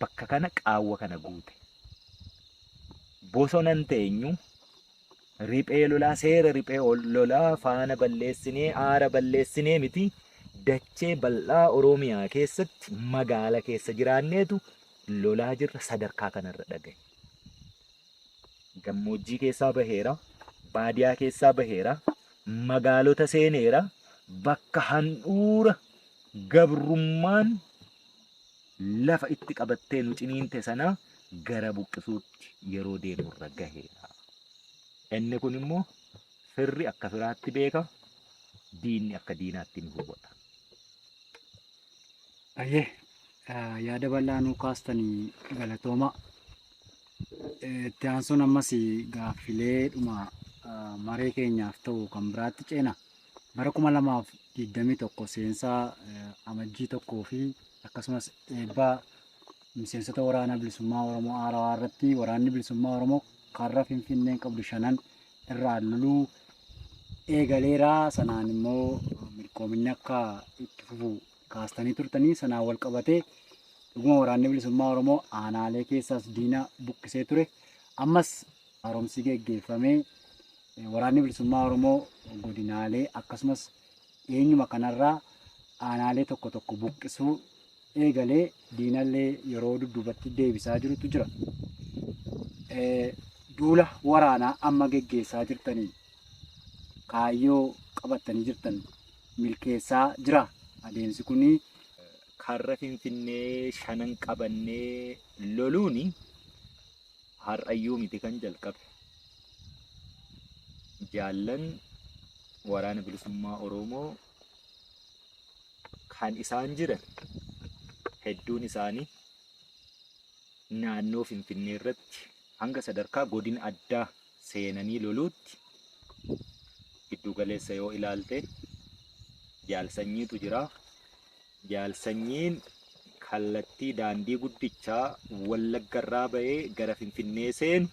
bakka kana qaawwa kana guute. Bosona hin teenyu, riphee lolaa, seera riphee lolaa faana balleessinee, aara balleessinee miti, dachee bal'aa Oromiyaa keessatti magaala keessa jiraanneetu lolaa jirra sadarkaa kanarra dhagahe. Gammoojjii keessaa baheera, baadiyaa keessaa baheera, magaalota seeneera, bakka handhuura gabrummaan lafa itti qabattee nu ciniinte sana gara buqqisuutti yeroo deemu irra gaheera. Inni kun immoo firri akka firaatti beeka, diinni akka diinaatti ni hubata. Ayyee eh, yaada bal'aa nuu kaastanii galatooma. Eh, Itti aansuun ammas gaaffilee dhuma eh, maree keenyaaf ta'u kan biraatti ceena. Bara 2021 seensaa Amajjii 1 fi akkasumas eebba miseensota waraana bilisummaa Oromoo Haarawaa irratti waraanni bilisummaa Oromoo karra Finfinneen qabdu shanan irraa loluu eegaleera. Sanaan immoo milkoominni akka itti fufu kaastanii turtanii sanaan wal qabatee dhuguma waraanni bilisummaa Oromoo aanaalee keessaas diina buqqisee ture. Ammas haaromsi geggeeffamee Waraanni Bilisummaa Oromoo godinaalee akkasumas dhiyeenyuma kanarraa aanaalee tokko tokko buqqisuu eegalee diinallee yeroo dudduubatti deebisaa jirutu jira. Duula waraanaa amma geggeessaa jirtaniin kaayyoo qabattanii jirtan milkeessaa jira adeemsi kuni. Karra Finfinnee shanan qabannee loluuni har'ayyuu miti kan jalqabe. jaallan waraana bilisummaa Oromoo kan isaan jiran hedduun isaanii naannoo Finfinnee irratti hanga sadarkaa godina addaa seenanii loluutti giddugaleessa yoo ilaalte jaalsanyiitu jira. Jaal Sanyiin kallattii daandii guddichaa Wallaggarraa ba'ee gara Finfinnee seenu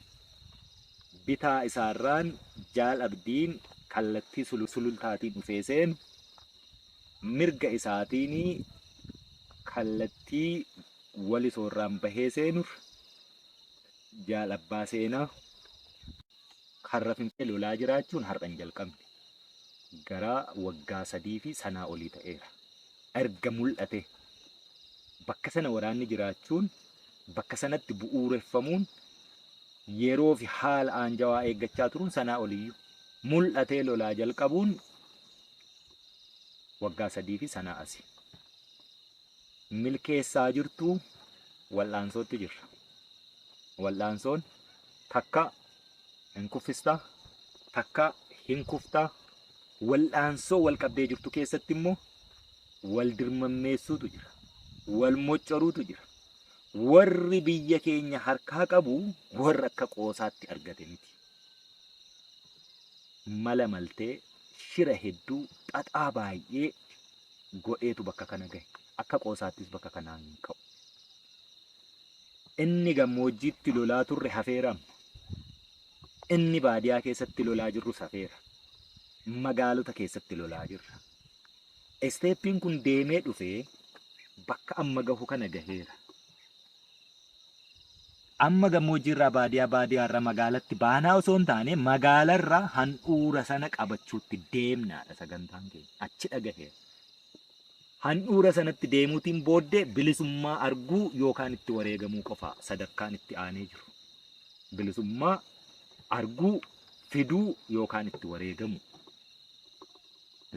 bitaa isaarraan Jaal Abdiin kallattii Sulultaatiin dhufee seenu, mirga isaatiin kallattii Walisoorraan bahee seenurra Jaal Abbaa Seenaa, Karra Finfee lolaa jiraachuun har'a hin jalqabne. Gara waggaa sadii fi sanaa olii ta'eera. Erga mul'atee bakka sana waraanni jiraachuun bakka sanatti bu'uureffamuun yeroo fi haala aanjawaa eeggachaa turuun sanaa oliyyuu mul'atee lolaa jalqabuun waggaa sadii fi sanaa asi. milkeessaa jirtu wal'aansootti jirra. Wal'aansoon takka hin kuffista, takka hin kufta. Wal'aansoo wal qabdee jirtu keessatti immoo wal dirmammeessuutu jira. Wal moccoruutu jira. Warri biyya keenya harkaa qabu warra akka qoosaatti argate miti. Mala maltee shira hedduu xaxaa baay'ee godheetu bakka kana gahe. Akka qoosaattis bakka kanaan ka'u. Inni gammoojjiitti lolaa turre hafeera. Inni baadiyaa keessatti lolaa jirrus hafeera. Magaalota keessatti lolaa jirra. Isteeppiin kun deemee dhufee bakka amma gahu kana gaheera. Amma gammoojjiirraa baadiyaa, baadiyaarra magaalatti baanaa osoo hin taane magaalarra handhuura sana qabachuutti deemnaadha sagantaan keenya. Achi dhagaheera. Handhuura sanatti deemuutiin booddee bilisummaa arguu yookaan itti wareegamuu qofa sadarkaan itti aanee jiru. Bilisummaa arguu, fiduu yookaan itti wareegamu.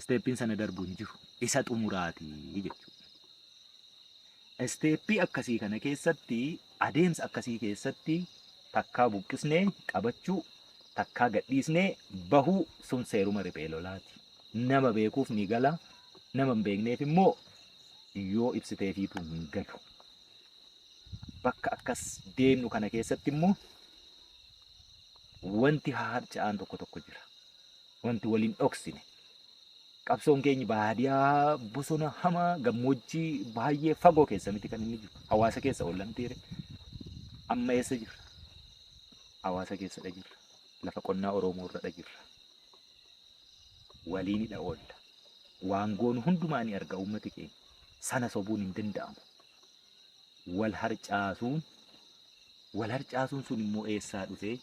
Isteeppiin sana darbu hin jiru. Isa xumuraati jechuudha. Isteeppii akkasii kana keessatti, adeemsa akkasii keessatti takkaa buqqisnee qabachuu, takkaa gadhiisnee bahuu sun seeruma riphee lolaati. Nama beekuuf ni gala, nama hin beekneef immoo yoo ibsiteefiitu hin galu. Bakka akkas deemnu kana keessatti immoo wanti haharca'aan tokko tokko jira. Wanti wal hin dhoksine qabsoon keenya baadiyaa bosona hamaa gammoojjii baay'ee fagoo keessa miti kan inni jiru. Hawaasa keessa ollan tiire. Amma eessa jirra? Hawaasa keessadha jirra. Lafa qonnaa Oromoo irradha jirra. Waliinidha oolla. Waan goonu hundumaa ni arga uummati keenya. Sana sobuun hin danda'amu. wal harcaasuun wal harcaasuun sun immoo eessaa dhufee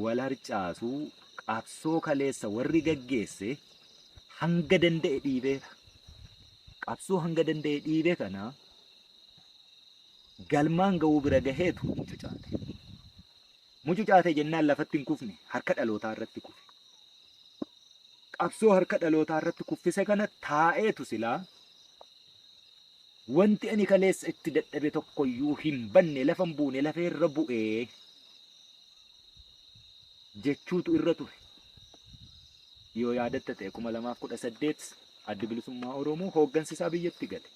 wal harcaasuu qabsoo kaleessa warri gaggeesse hanga danda'e dhiibeera. Qabsoo hanga danda'e dhiibe kana galmaan ga'uu bira gaheetu hin cucaate. Mucucaate jennaan lafatti hin kufne, harka dhalootaa irratti kufe. Qabsoo harka dhalootaa irratti kuffise kana taa'eetu silaa wanti ani kaleessa itti dadhabe tokkoyyuu hin banne lafa hin buune lafa irra bu'ee jechuutu irra ture. Yoo yaadatta ta'e kuma lamaaf kudha saddeet addi bilisummaa Oromoo hooggansi isaa biyyatti gale.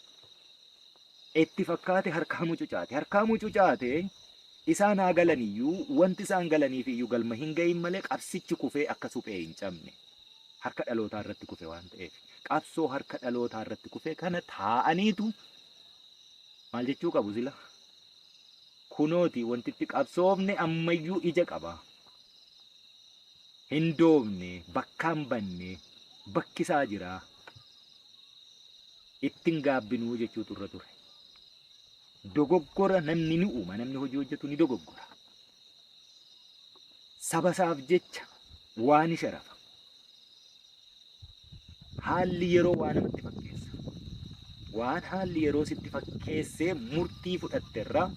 itti fakkaate harkaa mucucaate. Harkaa mucucaate isaan haa galaniyyuu wanti isaan galaniifiyyuu galma hin ga'iin malee qabsichi kufee akka suphee hin cabne harka dhalootaa irratti kufe waan ta'eef qabsoo harka dhalootaa irratti kufe kana taa'aniitu maal jechuu qabu sila kunooti wanti itti qabsoofne ammayyuu ija qaba. Hin doofne bakkaan banne bakkisaa jira. ittin gaabbinuu jechuutu irra ture. Dogoggora namni ni uuma, namni hojii hojjetu ni dogoggora. Saba isaaf jecha waa ni sharafa. Haalli yeroo waa namatti fakkeessa. Waan haalli yeroo sitti fakkeessee murtii fudhatte irraa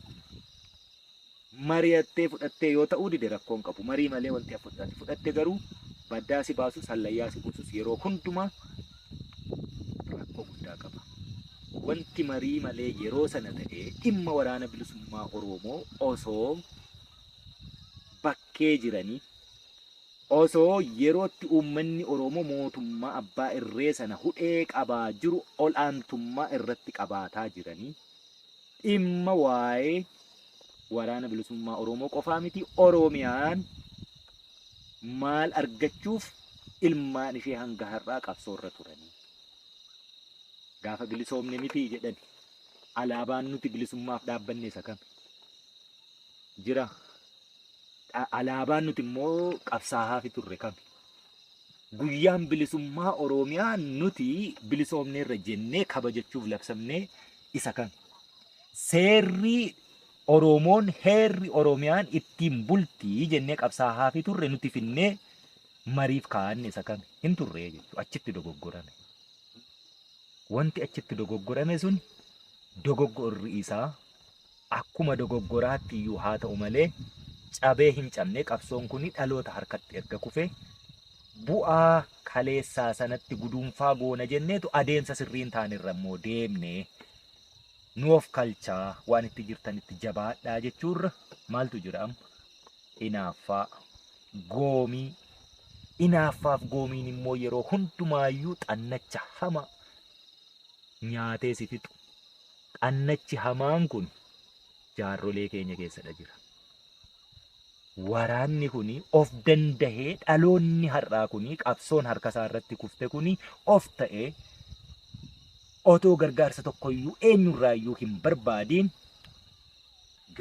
mariyattee fudhattee yoo ta'uu dide rakkoo hin qabu marii malee wanti hafu jiraate fudhatte garuu baddaa si baasus hallayyaa si buusus yeroo hundumaa rakkoo guddaa qaba. Wanti marii malee yeroo sana ta'ee dhimma waraana bilisummaa Oromoo osoo bakkee jiranii osoo yerootti uummanni Oromoo mootummaa abbaa irree sana hudhee qabaa jiru ol'aantummaa irratti qabaataa jiranii dhimma waa'ee waraana bilisummaa Oromoo qofaa miti Oromiyaan maal argachuuf ilmaan ishee hanga har'aa qabsoorra turanii gaafa bilisoomne miti jedhan alaabaan nuti bilisummaaf dhaabbanne isa kami jira Dha- alaabaan nuti immoo qabsaahaafi turre kami guyyaan bilisummaa Oromiyaa nuti bilisoomneerra jennee kabajachuuf labsamnee isa kan seerrii Oroomoon heerri Oromiyaan ittiin bultii jennee qabsaahaafii turre nuti finnee mariif kaa'anne isa kan hin turree jechuudha. Achitti dogoggorame. Wanti achitti dogoggorame sun dogoggorri isaa Akkuma dogoggoraatti iyyuu haa ta'u malee cabee hin cabne qabsoon kuni dhaloota harkatti erga kufe bu'aa kaleessaa sanatti guduunfaa goona jenneetu adeemsa sirrii hin taane irra immoo deemne nu of kalchaa waan itti jirtanitti jabaadhaa jechuurra maaltu jira amma inaaffaa goomii inaaffaaf goomiin immoo yeroo hundumaayyuu xannacha hama nyaatee si fixu Xannachi hamaan kun jaarrolee keenya keessadha jira. Waraanni kun of dandahee dhaloonni har'aa kun qabsoon harka isaa irratti kufte kun of ta'ee otoo gargaarsa tokkoyyuu eenyurraayyuu hin barbaadiin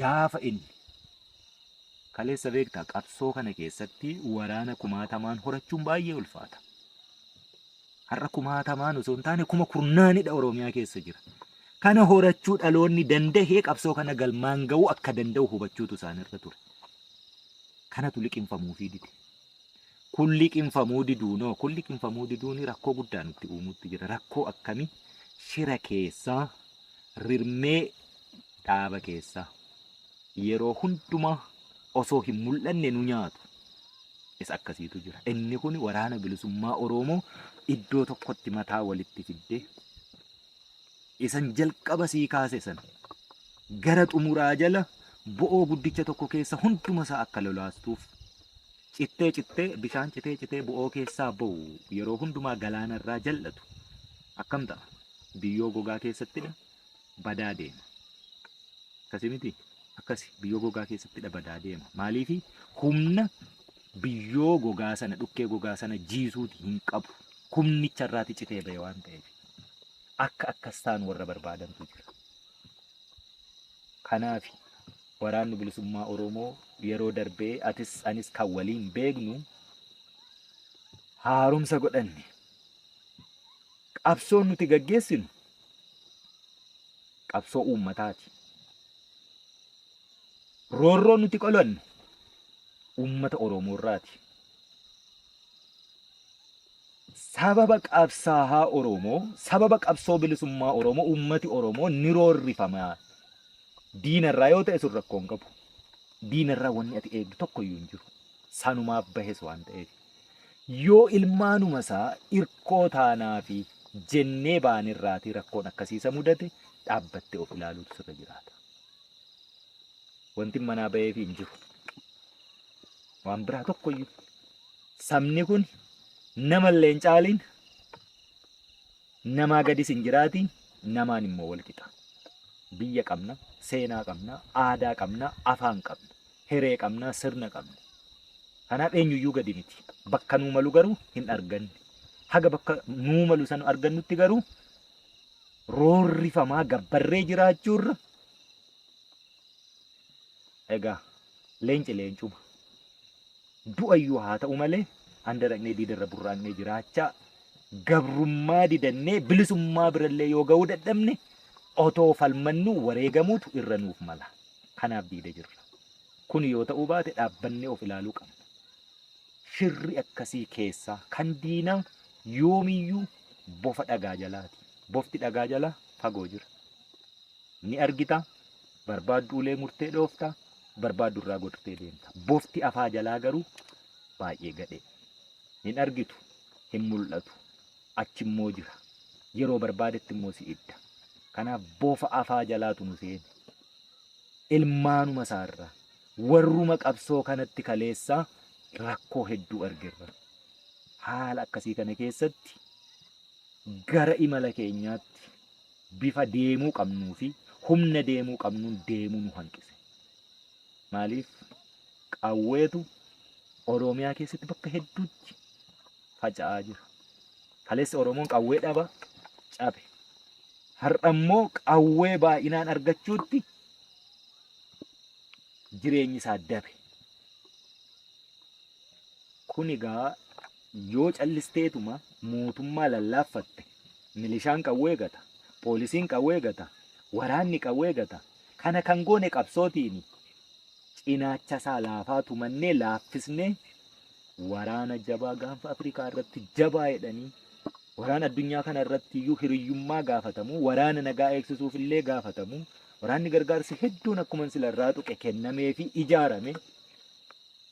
gaafa inni kaleessa beektaa qabsoo kana keessatti waraana kumaatamaan horachuun baay'ee ulfaata. har'a kumaatamaan osoo hin taane kuma kurnaanidha Oromiyaa keessa jira. Kana horachuu dhaloonni dandahee qabsoo kana galmaan ga'uu akka danda'u hubachuutu isaanirra ture. Kanatu liqimfamuufii dide. Kun liqimfamuu diduunoo kun liqimfamuu diduun rakkoo guddaa nutti uumuutti jira. Rakkoo akkamii shira keessaa rirmee dhaaba keessaa. yeroo hundumaa osoo hin mul'anne nu nyaatu isa akkasiitu jira. Inni kun waraana bilisummaa Oromoo iddoo tokkotti mataa walitti fiddee isan jalqaba sii kaase sana gara xumuraa jala bo'oo guddicha tokko keessa hunduma isaa akka lolaastuuf cittee cittee bishaan citee citee bo'oo keessaa ba'u yeroo hundumaa galaana irraa jal'atu akkam ta'a biyyoo gogaa keessatti badaa deema. Akkasi miti? Akkasi biyyoo gogaa keessattidha badaa deema. Maaliifi humna biyyoo gogaa sana dhukkee gogaa sana jiisuuti hin qabu. Humnicha irraati citee ba'e waan ta'eef. Akka akkas ta'an warra barbaadantu jira. Kanaaf waraanni bilisummaa Oromoo yeroo darbee atis anis kan waliin beeknu haaromsa godhanne. Qabsoon nuti gaggeessinu qabsoo uummataati. Roorroo nuti qolannu uummata Oromoorraati. Sababa qabsaahaa Oromoo, sababa qabsoo bilisummaa Oromoo uummati Oromoo ni roorrifama. Diinarraa yoo ta'e sun rakkoo hin qabu. Diinarraa wanni ati eegdu tokko iyyuu hin jiru. Sanumaaf bahes waan ta'eef. Yoo ilmaanuma isaa irkoo taanaafi jennee baane irraatii rakkoon akkasii isa mudate dhaabbattee of ilaaluutu sirra jiraata. Wanti manaa baheefi hin jiru. Waan biraa tokkoyyuu. Sabni kun nama illee hin caaliin namaa gadis hin jiraatiin namaan immoo wal qixa. Biyya qabna, seenaa qabna, aadaa qabna, afaan qabna. Hiree qabna, sirna qabna. Kanaaf eenyuyyuu gadi miti. Bakka nuu malu garuu hin arganne. Haga bakka nuu malu san argannutti garuu roorrifamaa gabbarree jiraachuurra egaa leenci leencuma. Du'ayyuu haa ta'u malee handaraqnee diidarra burraaqnee jiraachaa gabrummaa didannee bilisummaa birallee yoo ga'uu dadhabne otoo falmannuu wareegamuutu irra nuuf mala. Kanaaf diida jirra. Kun yoo ta'uu baate dhaabbannee of ilaaluu qabna. Shirri akkasii keessaa kan diinaa yoomiyyuu bofa dhagaa jalaati. Bofti dhagaa jalaa fagoo jira. Ni argita, barbaaddu ulee murtee dhoofta, barbaaddu irraa godhutee deemta. Bofti afaa jalaa garuu baay'ee gadhee. Hin argitu, hin mul'atu, achi immoo jira. Yeroo barbaadetti immoo si idda. Kanaaf bofa afaa jalaatu nu seene. ilmaanuma isaa irraa warruma qabsoo kanatti kaleessaa rakkoo hedduu argerra. Haala akkasii kana keessatti gara imala keenyaatti bifa deemuu qabnuu fi humna deemuu qabnuun deemuu nu hanqise. Maaliif qawweetu Oromiyaa keessatti bakka hedduutti faca'aa jira. Kaleessa Oromoon qawwee dhaba cabe. Har'a immoo qawwee baay'inaan argachuutti jireenyi isaa dabe. Kun egaa yoo callisteetuma mootummaa lallaaffatte milishaan qawwee gata, poolisiin qawwee gata, waraanni qawwee gata. Kana kan goone qabsootiini. Cinaacha isaa laafaa tumannee laaffisnee waraana jabaa gaanfa Afrikaa irratti jabaa jedhanii waraana addunyaa kana irratti iyyuu hiriyyummaa gaafatamu, waraana nagaa eegsisuuf illee gaafatamu, waraanni gargaarsi hedduun akkuma sila irraa tuqe kennamee fi ijaarame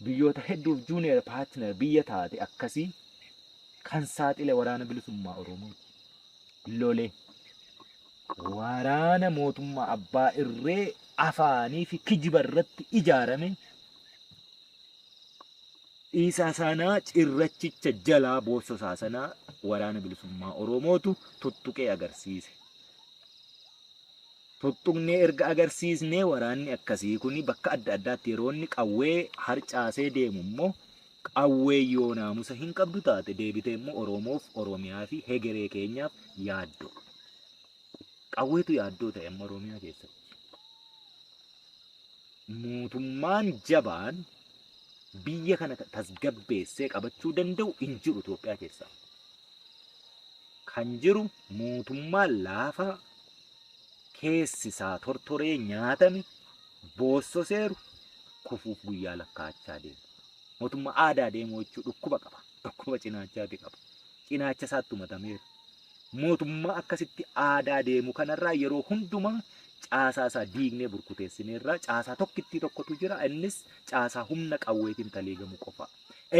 biyyoota hedduuf juuniyer paatiner biyya taate akkasii kan saaxile waraana bilisummaa Oromoo lole waraana mootummaa abbaa irree afaanii fi kijiba irratti ijaarame Isa sana cirrachicha jalaa boossa isaa sana waraana bilisummaa Oromootu tuttuqee agarsiise. Tuttuqnee erga agarsiisnee waraanni akkasii kun bakka adda addaatti yeroo inni qawwee harcaasee deemu immoo qawwee yoo naamusa hin qabdu taate deebitee immoo Oromoof, Oromiyaa fi hegeree keenyaaf yaaddoo. Qawweetu yaaddoo ta'e amma Oromiyaa keessatti. Mootummaan jabaan biyya kana tasgabbeessee qabachuu danda'u hin jiru Itoophiyaa keessaa. Kan jiru mootummaa laafaa keessi isaa tortoree nyaatame boossoseeru kufuuf guyyaa lakkaa'achaa deema. Mootummaa aadaa deemuu jechuun dhukkuba qaba. Dhukkuba cinaachaati qaba. Cinaacha isaatti umatameera. Mootummaa akkasitti aadaa deemu kanarraa yeroo hundumaa caasaa isaa diignee burkuteessineerraa caasaa tokkittii tokkotu jira. Innis caasaa humna qawweetiin taliigamu qofa.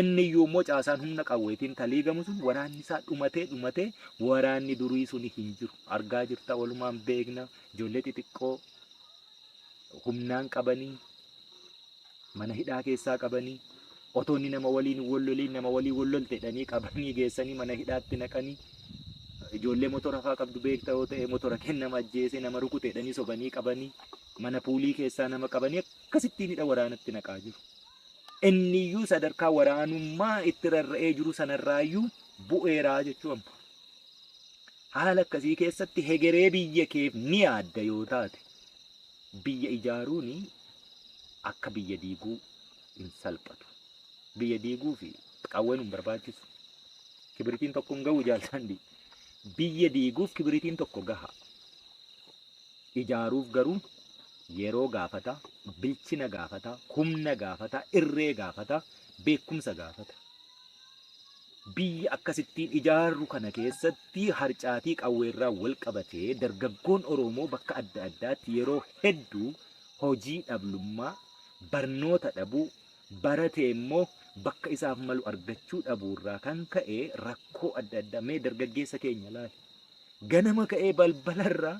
Inni iyyuu immoo caasaan humna qawweetiin taliigamu sun waraanni isaa dhumatee dhumatee waraanni durii suni hin jiru. Argaa jirta walumaan beekna ijoollee xixiqqoo humnaan qabanii mana hidhaa keessaa qabanii otoo inni nama waliin hin wolloliin nama waliin wollolte jedhanii qabanii geessanii mana hidhaatti naqanii ijoollee motora faa qabdu beekta yoo ta'e motora kee nama ajjeese nama rukute jedhanii sobanii qabanii mana puulii keessaa nama qabanii akkasittiin hidha waraanatti naqaa jiru. Inni iyyuu sadarkaa waraanummaa itti rarra'ee jiru sanarraayyuu bu'eeraa jechuu amma. Haala akkasii keessatti hegeree biyya keef ni yaadda yoo taate Biyya ijaaruun akka biyya diiguu hin salphatu. Biyya diiguuf qawween hin barbaachisu. Kibiritiin tokko hin gahu jaaltaandi. Biyya diiguuf kibiritiin tokko gaha. Ijaaruuf garuu yeroo gaafata, bilchina gaafata, humna gaafata, irree gaafata, beekumsa gaafata. Biyya akkasittiin ijaarru kana keessatti harcaatii qawweerraa walqabatee dargaggoon Oroomoo bakka adda addaatti yeroo hedduu hojii dhablummaa, barnoota dhabuu, baratee immoo bakka isaaf malu argachuu dhabuurraa kan ka'e rakkoo adda addaa mee dargaggeessa keenya ilaali. Ganama ka'ee balbalarraa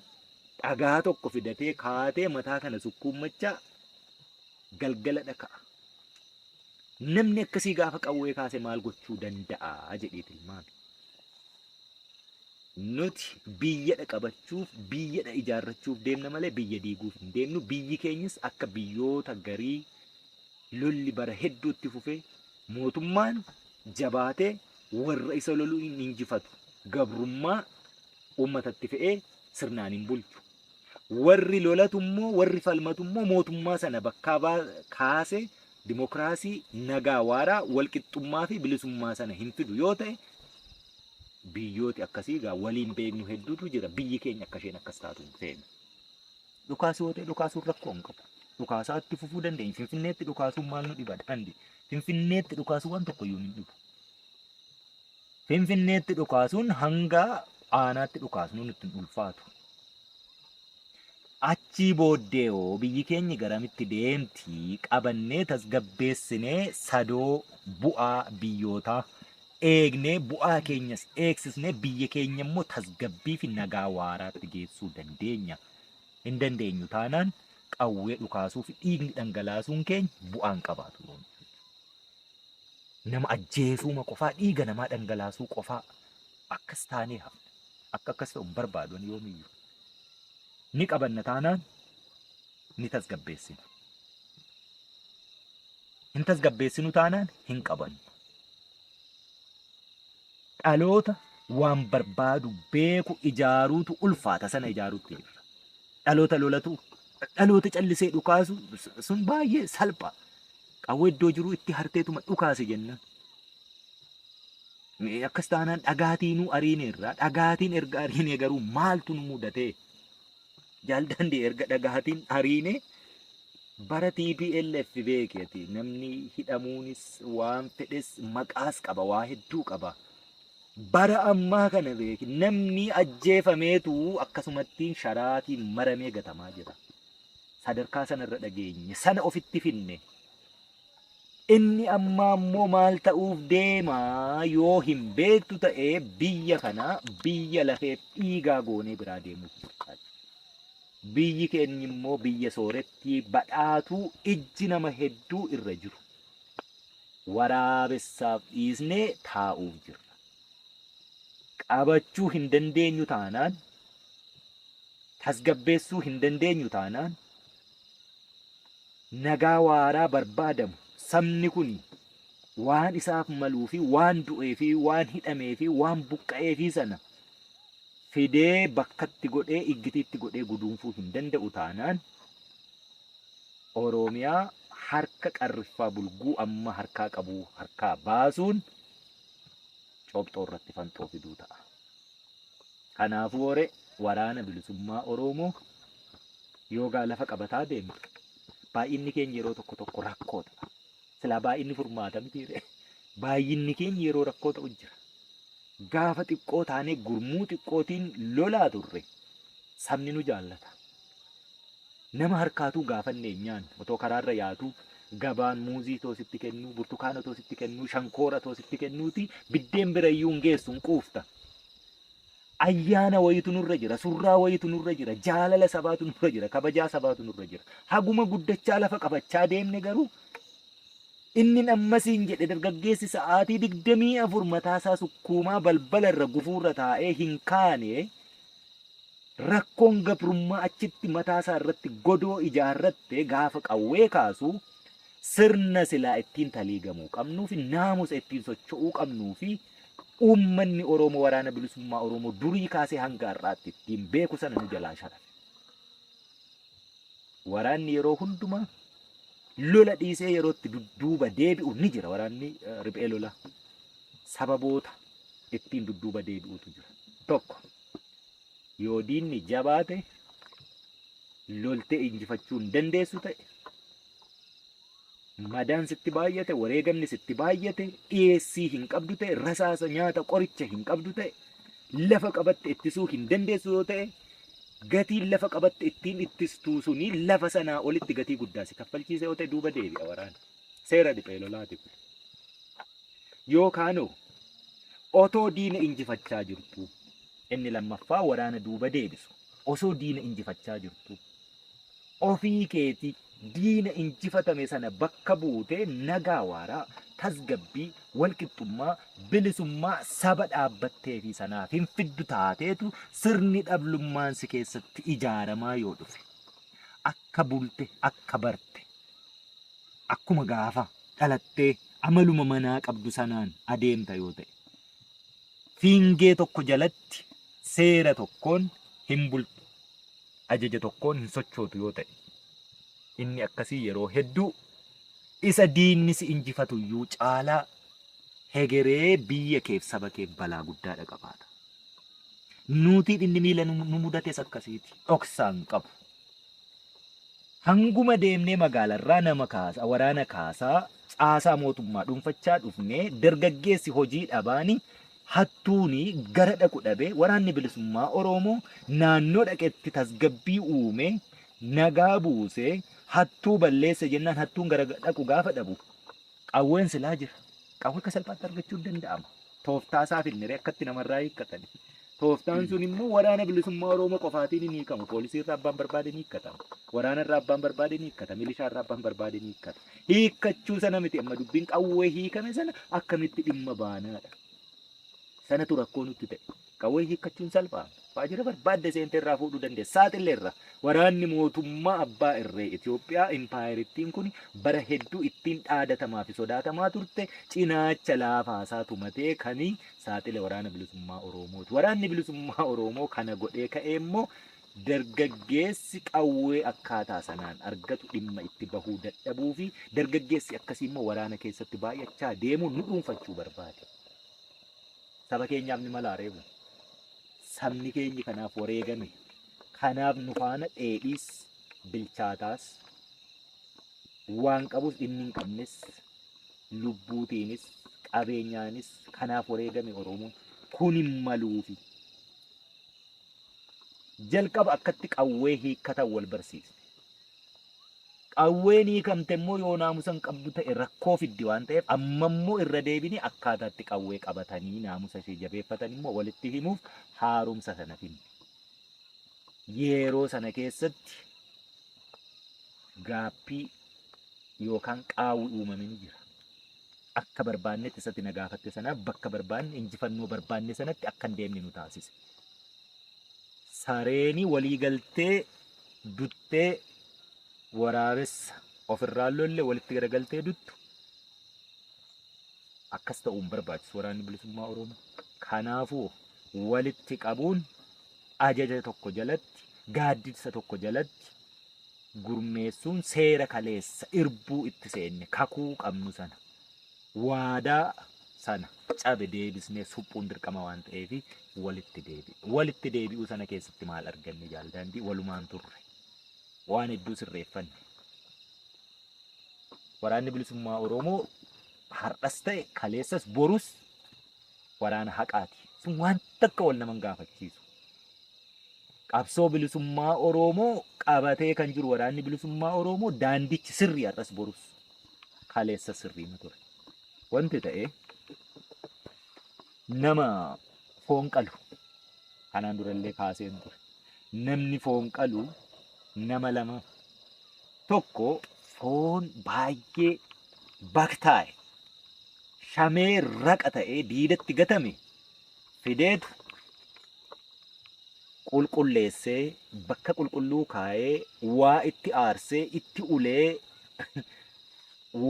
dhagaa tokko fidatee kaatee mataa kana sukkuummachaa galgaladha ka'a. Namni akkasii gaafa qawwee kaase maal gochuu danda'a jedhee tilmaame. Nuti biyyadha qabachuuf, biyyadha ijaarrachuuf deemna malee biyya diiguuf hin deemnu. Biyyi keenyas akka biyyoota garii lolli bara hedduutti fufee mootummaan jabaatee warra isa loluu hin injifatu. Gabrummaa uummatatti fe'ee sirnaan hin bulchu. Warri lolatu immoo, warri falmatu immoo mootummaa sana bakkaa baa, kaase dimokiraasii, nagaa waaraa, walqixxummaa fi bilisummaa sana hin fidu yoo ta'e biyyooti akkasii egaa waliin beeknu hedduutu jira. Biyyi keenya akka isheen akkas taatu hin feenu. Dhukaasuu yoo ta'e dhukaasuun rakkoo hin qabu. Dhukaasaa itti fufuu dandeenya. Finfinneetti dhukaasuun maal nu dhiba daandii? Finfinneetti dhukaasuu waan tokko iyyuu hin dhibu. Finfinneetti dhukaasuun hanga aanaatti dhukaasnuu nutti hin ulfaatu. Achii booddee hoo biyyi keenya garamitti deemti qabannee tasgabbeessinee sadoo bu'aa biyyootaa eegnee bu'aa keenyas eegsisnee biyya keenya immoo tasgabbii fi nagaa waaraatti geessuu dandeenya. Hin dandeenyu taanaan qawwee dhukaasuu fi dhiigni dhangalaasuun keenya bu'aan qabaatu. Nama ajjeesuuma qofaa, dhiiga namaa dhangalaasuu qofaa akkas taanee hafna. Akka akkas ta'u hin barbaadu ani yoomiyyuu. Ni qabanna taanaan ni tasgabbeessina. Hin tasgabbeessinu taanaan hin qabannu. Dhaloota waan barbaadu beeku ijaaruutu ulfaata sana ijaaruutti jirra. Dhaloota lolatu dhaloota callisee dhukaasu sun baay'ee salpha. Qawwee iddoo jiruu itti harteetuma dhukaase jennaan. Mee Akkas taanaan dhagaatiinuu ariineerra. Dhagaatiin erga ariinee garuu maaltu nu mudatee? Jaal Daandii erga dhagaatiin ariinee bara TPLF beeki ati namni hidhamuunis waan fedhes maqaas qaba waa hedduu qaba. Bara ammaa kana beeki namni ajjeefameetu akkasumattiin sharaatiin maramee gatamaa jira. sadarkaa sana irra dhageenye sana ofitti finne inni ammaa immoo maal ta'uuf deema yoo hin beektu ta'e biyya kana biyya lafeef dhiigaa goonee biraa deemuuf murtaa'e. Biyyi keenya immoo biyya soorettii badhaatuu ijji nama hedduu irra jiru waraabessaaf dhiisnee taa'uuf jirra. qabachuu hin dandeenyu taanaan, tasgabbeessuu hin dandeenyu taanaan, nagaa waaraa barbaadamu sabni kuni waan isaaf maluu fi waan du'ee fi waan hidhamee fi waan buqqa'ee fi sana fidee bakkatti godhee iggitiitti godhee guduunfuu hin danda'u taanaan Oromiyaa harka qarriffaa bulguu amma harkaa qabu harkaa baasuun copxoo irratti fanxoo fiduu ta'a. Kanaafuu hore waraana bilisummaa Oromoo yoo gaa lafa qabataa deemtu baay'inni keenya yeroo tokko tokko rakkoo ta'a. Silaa baay'inni furmaata miti ree. Baay'inni keenya yeroo rakkoo ta'u jira. Gaafa xiqqoo taanee gurmuu xiqqootiin lolaa turre sabni nu jaallata. Nama harkaatuu gaafannee hin nyaannu. Otoo karaarra yaatuu, gabaan muuzii too sitti kennuu, burtukaana too sitti kennuu, shankoora too sitti kennuutii biddeen bira iyyuu hin geessu, hin quufta. Ayyaana wayiitu nurra jira, surraa wayiitu nurra jira, jaalala sabaatu nurra jira, kabajaa sabaatu nurra jira. Haguma guddachaa lafa qabachaa deemne garuu innin amma siin jedhe dargaggeessi sa'aatii 24 mataasaa sukkuumaa balbala irra gufuurra taa'ee hin kaane Rakkoon gabrummaa achitti mataa isaa irratti godoo ijaarratte gaafa qawwee kaasu sirna silaa ittiin taliigamuu qabnuu fi naamusa ittiin socho'uu qabnuu fi uummanni Oromoo waraana bilisummaa Oromoo durii kaasee hanga har'aatti ittiin beeku sana nu jalaa sharafe. Waraanni yeroo hundumaa lola dhiisee yerootti dudduuba deebi'u ni jira waraanni eh, riphee lolaa. sababoota ittiin dudduuba deebi'uutu jira. Tokko yoo diinni jabaa ta'e loltee injifachuu hin dandeessu ta'e madaan sitti baay'ate wareegamni sitti baay'ate dhiyeessii hin qabdu ta'e rasaasa nyaata qoricha hin qabdu ta'e lafa qabatte ittisuu hin dandeessu yoo ta'e gatiin lafa qabatte ittiin ittistuu suni lafa sanaa olitti gatii guddaa si kaffalchiisa yoo ta'e duuba deebi'a waraana. Seera riphee lolaatiif. Yookaanoo otoo diina injifachaa jirtuu. Inni lammaffaa waraana duuba deebisu. Osoo diina injifachaa jirtuu. Ofii keetii diina injifatame sana bakka buutee nagaa waaraa, tasgabbii, walqixxummaa, bilisummaa saba dhaabbattee fi sanaaf hin fiddu taateetu sirni dhablummaan si keessatti ijaaramaa yoo dhufe. Akka bulte, akka barte, akkuma gaafa dhalattee amaluma manaa qabdu sanaan adeemta yoo ta'e fiingee tokko jalatti seera tokkoon hin bultu ajaja tokkoon hin sochootu yoo ta'e inni akkasii yeroo hedduu isa diinni si injifatu iyyuu caalaa hegeree biyya keef saba keef balaa guddaa dhaqabaata. Nuutiin inni miila nu nu mudates akkasiiti. Dhoksaan qabu. Hanguma deemnee magaalarraa nama kaasa, waraana kaasa, caasaa mootummaa dhuunfachaa dhufnee dargaggeessi hojii dhabaani, hattuuni gara dhaqu dhabee waraanni bilisummaa Oroomoo naannoo dhaqetti tasgabbii uumee nagaa buusee hattuu balleesse jennaan hattuun gara dhaqu gaafa dhabu Qawween silaa jira. Qawwee akka salphaatti argachuun danda'ama. Tooftaa isaa finniree akkatti namarraa hiikkatan. Tooftaan sun immoo waraana bilisummaa Oromoo qofaatiin hin hiikamu. Poolisii irraa abbaan barbaade ni hiikkata. Waraana irraa abbaan barbaade ni hiikkata. Milishaa irraa abbaan barbaade ni hiikkata. Hiikkachuu sana miti amma dubbiin qawwee hiikame sana akkamitti dhimma baanaadha. Sanatu rakkoo nutti ta'e. Qawwee hiikkachuun salphaa? Waajjira barbaadde seentee irraa fuudhuu dandeessa. Saaxilleerra. Waraanni mootummaa abbaa irree Itoophiyaa impaayerittiin kun bara hedduu ittiin dhaadatamaa fi sodaatamaa turte cinaacha laafaasaa tumatee kan saaxile waraana bilisummaa Oroomooti. Waraanni bilisummaa Oroomoo kana godhee ka'ee immoo dargaggeessi qawwee akkaataa sanaan argatu dhimma itti bahuu dadhabuu fi dargaggeessi akkasii immoo waraana keessatti baay'achaa deemuun nu dhuunfachuu barbaade. Saba keenyaaf ni malaa reebu. Sabni keenyi kanaaf wareegame. Kanaaf nu faana dheedhiis bilchaataas waan qabus inni hin qabnes lubbuutiinis qabeenyaanis kanaaf wareegame Oromoon kun hin maluufi. Jalqaba akkatti qawwee hiikkatan wal barsiisne. Qawween hiikamte immoo yoo naamusa hin qabdu ta'e rakkoo fiddi waan ta'eef amma immoo irra deebinee akkaataa itti qawwee qabatanii naamusa ishee jabeeffatan immoo walitti himuuf haaromsa sana finne. Yeroo sana keessatti gaaffii yookaan qaawwi uumame ni jira. Akka barbaannetti isatti na gaafatte sanaaf bakka barbaanne injifannoo barbaanne sanatti akka hin deemne nu taasise. Sareeni walii galtee duttee waraabessa ofirraan lolle walitti garagaltee duttu akkas ta'uun barbaachisu waraanni bilisummaa Oromoo. Kanaafuu walitti qabuun ajaja tokko jalatti gaaddisa tokko jalatti gurmeessuun seera kaleessa irbuu itti seenne kakuu qabnu sana waadaa sana cabe deebisnee suphuun dirqama waan ta'eef walitti deebi'e. Walitti deebi'uu sana keessatti maal arganne jaaldaandii walumaan turre. Waan hedduu sirreeffanne. Waraanni bilisummaa Oromoo har'as ta'e kaleessas borus waraana haqaati. Sun waan takka wal naman gaafachiisu. Qabsoo bilisummaa Oromoo qabatee kan jiru waraanni bilisummaa Oromoo daandichi sirrii har'as borus. kaleessa sirriima ture. Wanti ta'e nama foon qalu kanaan durallee kaaseen ture. Namni foon qalu nama lama tokko foon baay'ee baktaa'e shamee raqa ta'ee diidatti gatame fideetu qulqulleessee bakka qulqulluu kaa'ee waa itti aarsee itti ulee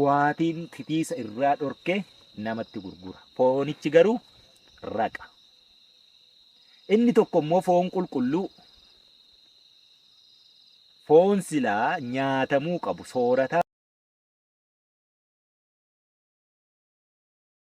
waatiin titiisa irraa dhorkee namatti gurgura. Foonichi garuu raqa. Inni tokko immoo foon qulqulluu foon silaa nyaatamuu qabu soorataa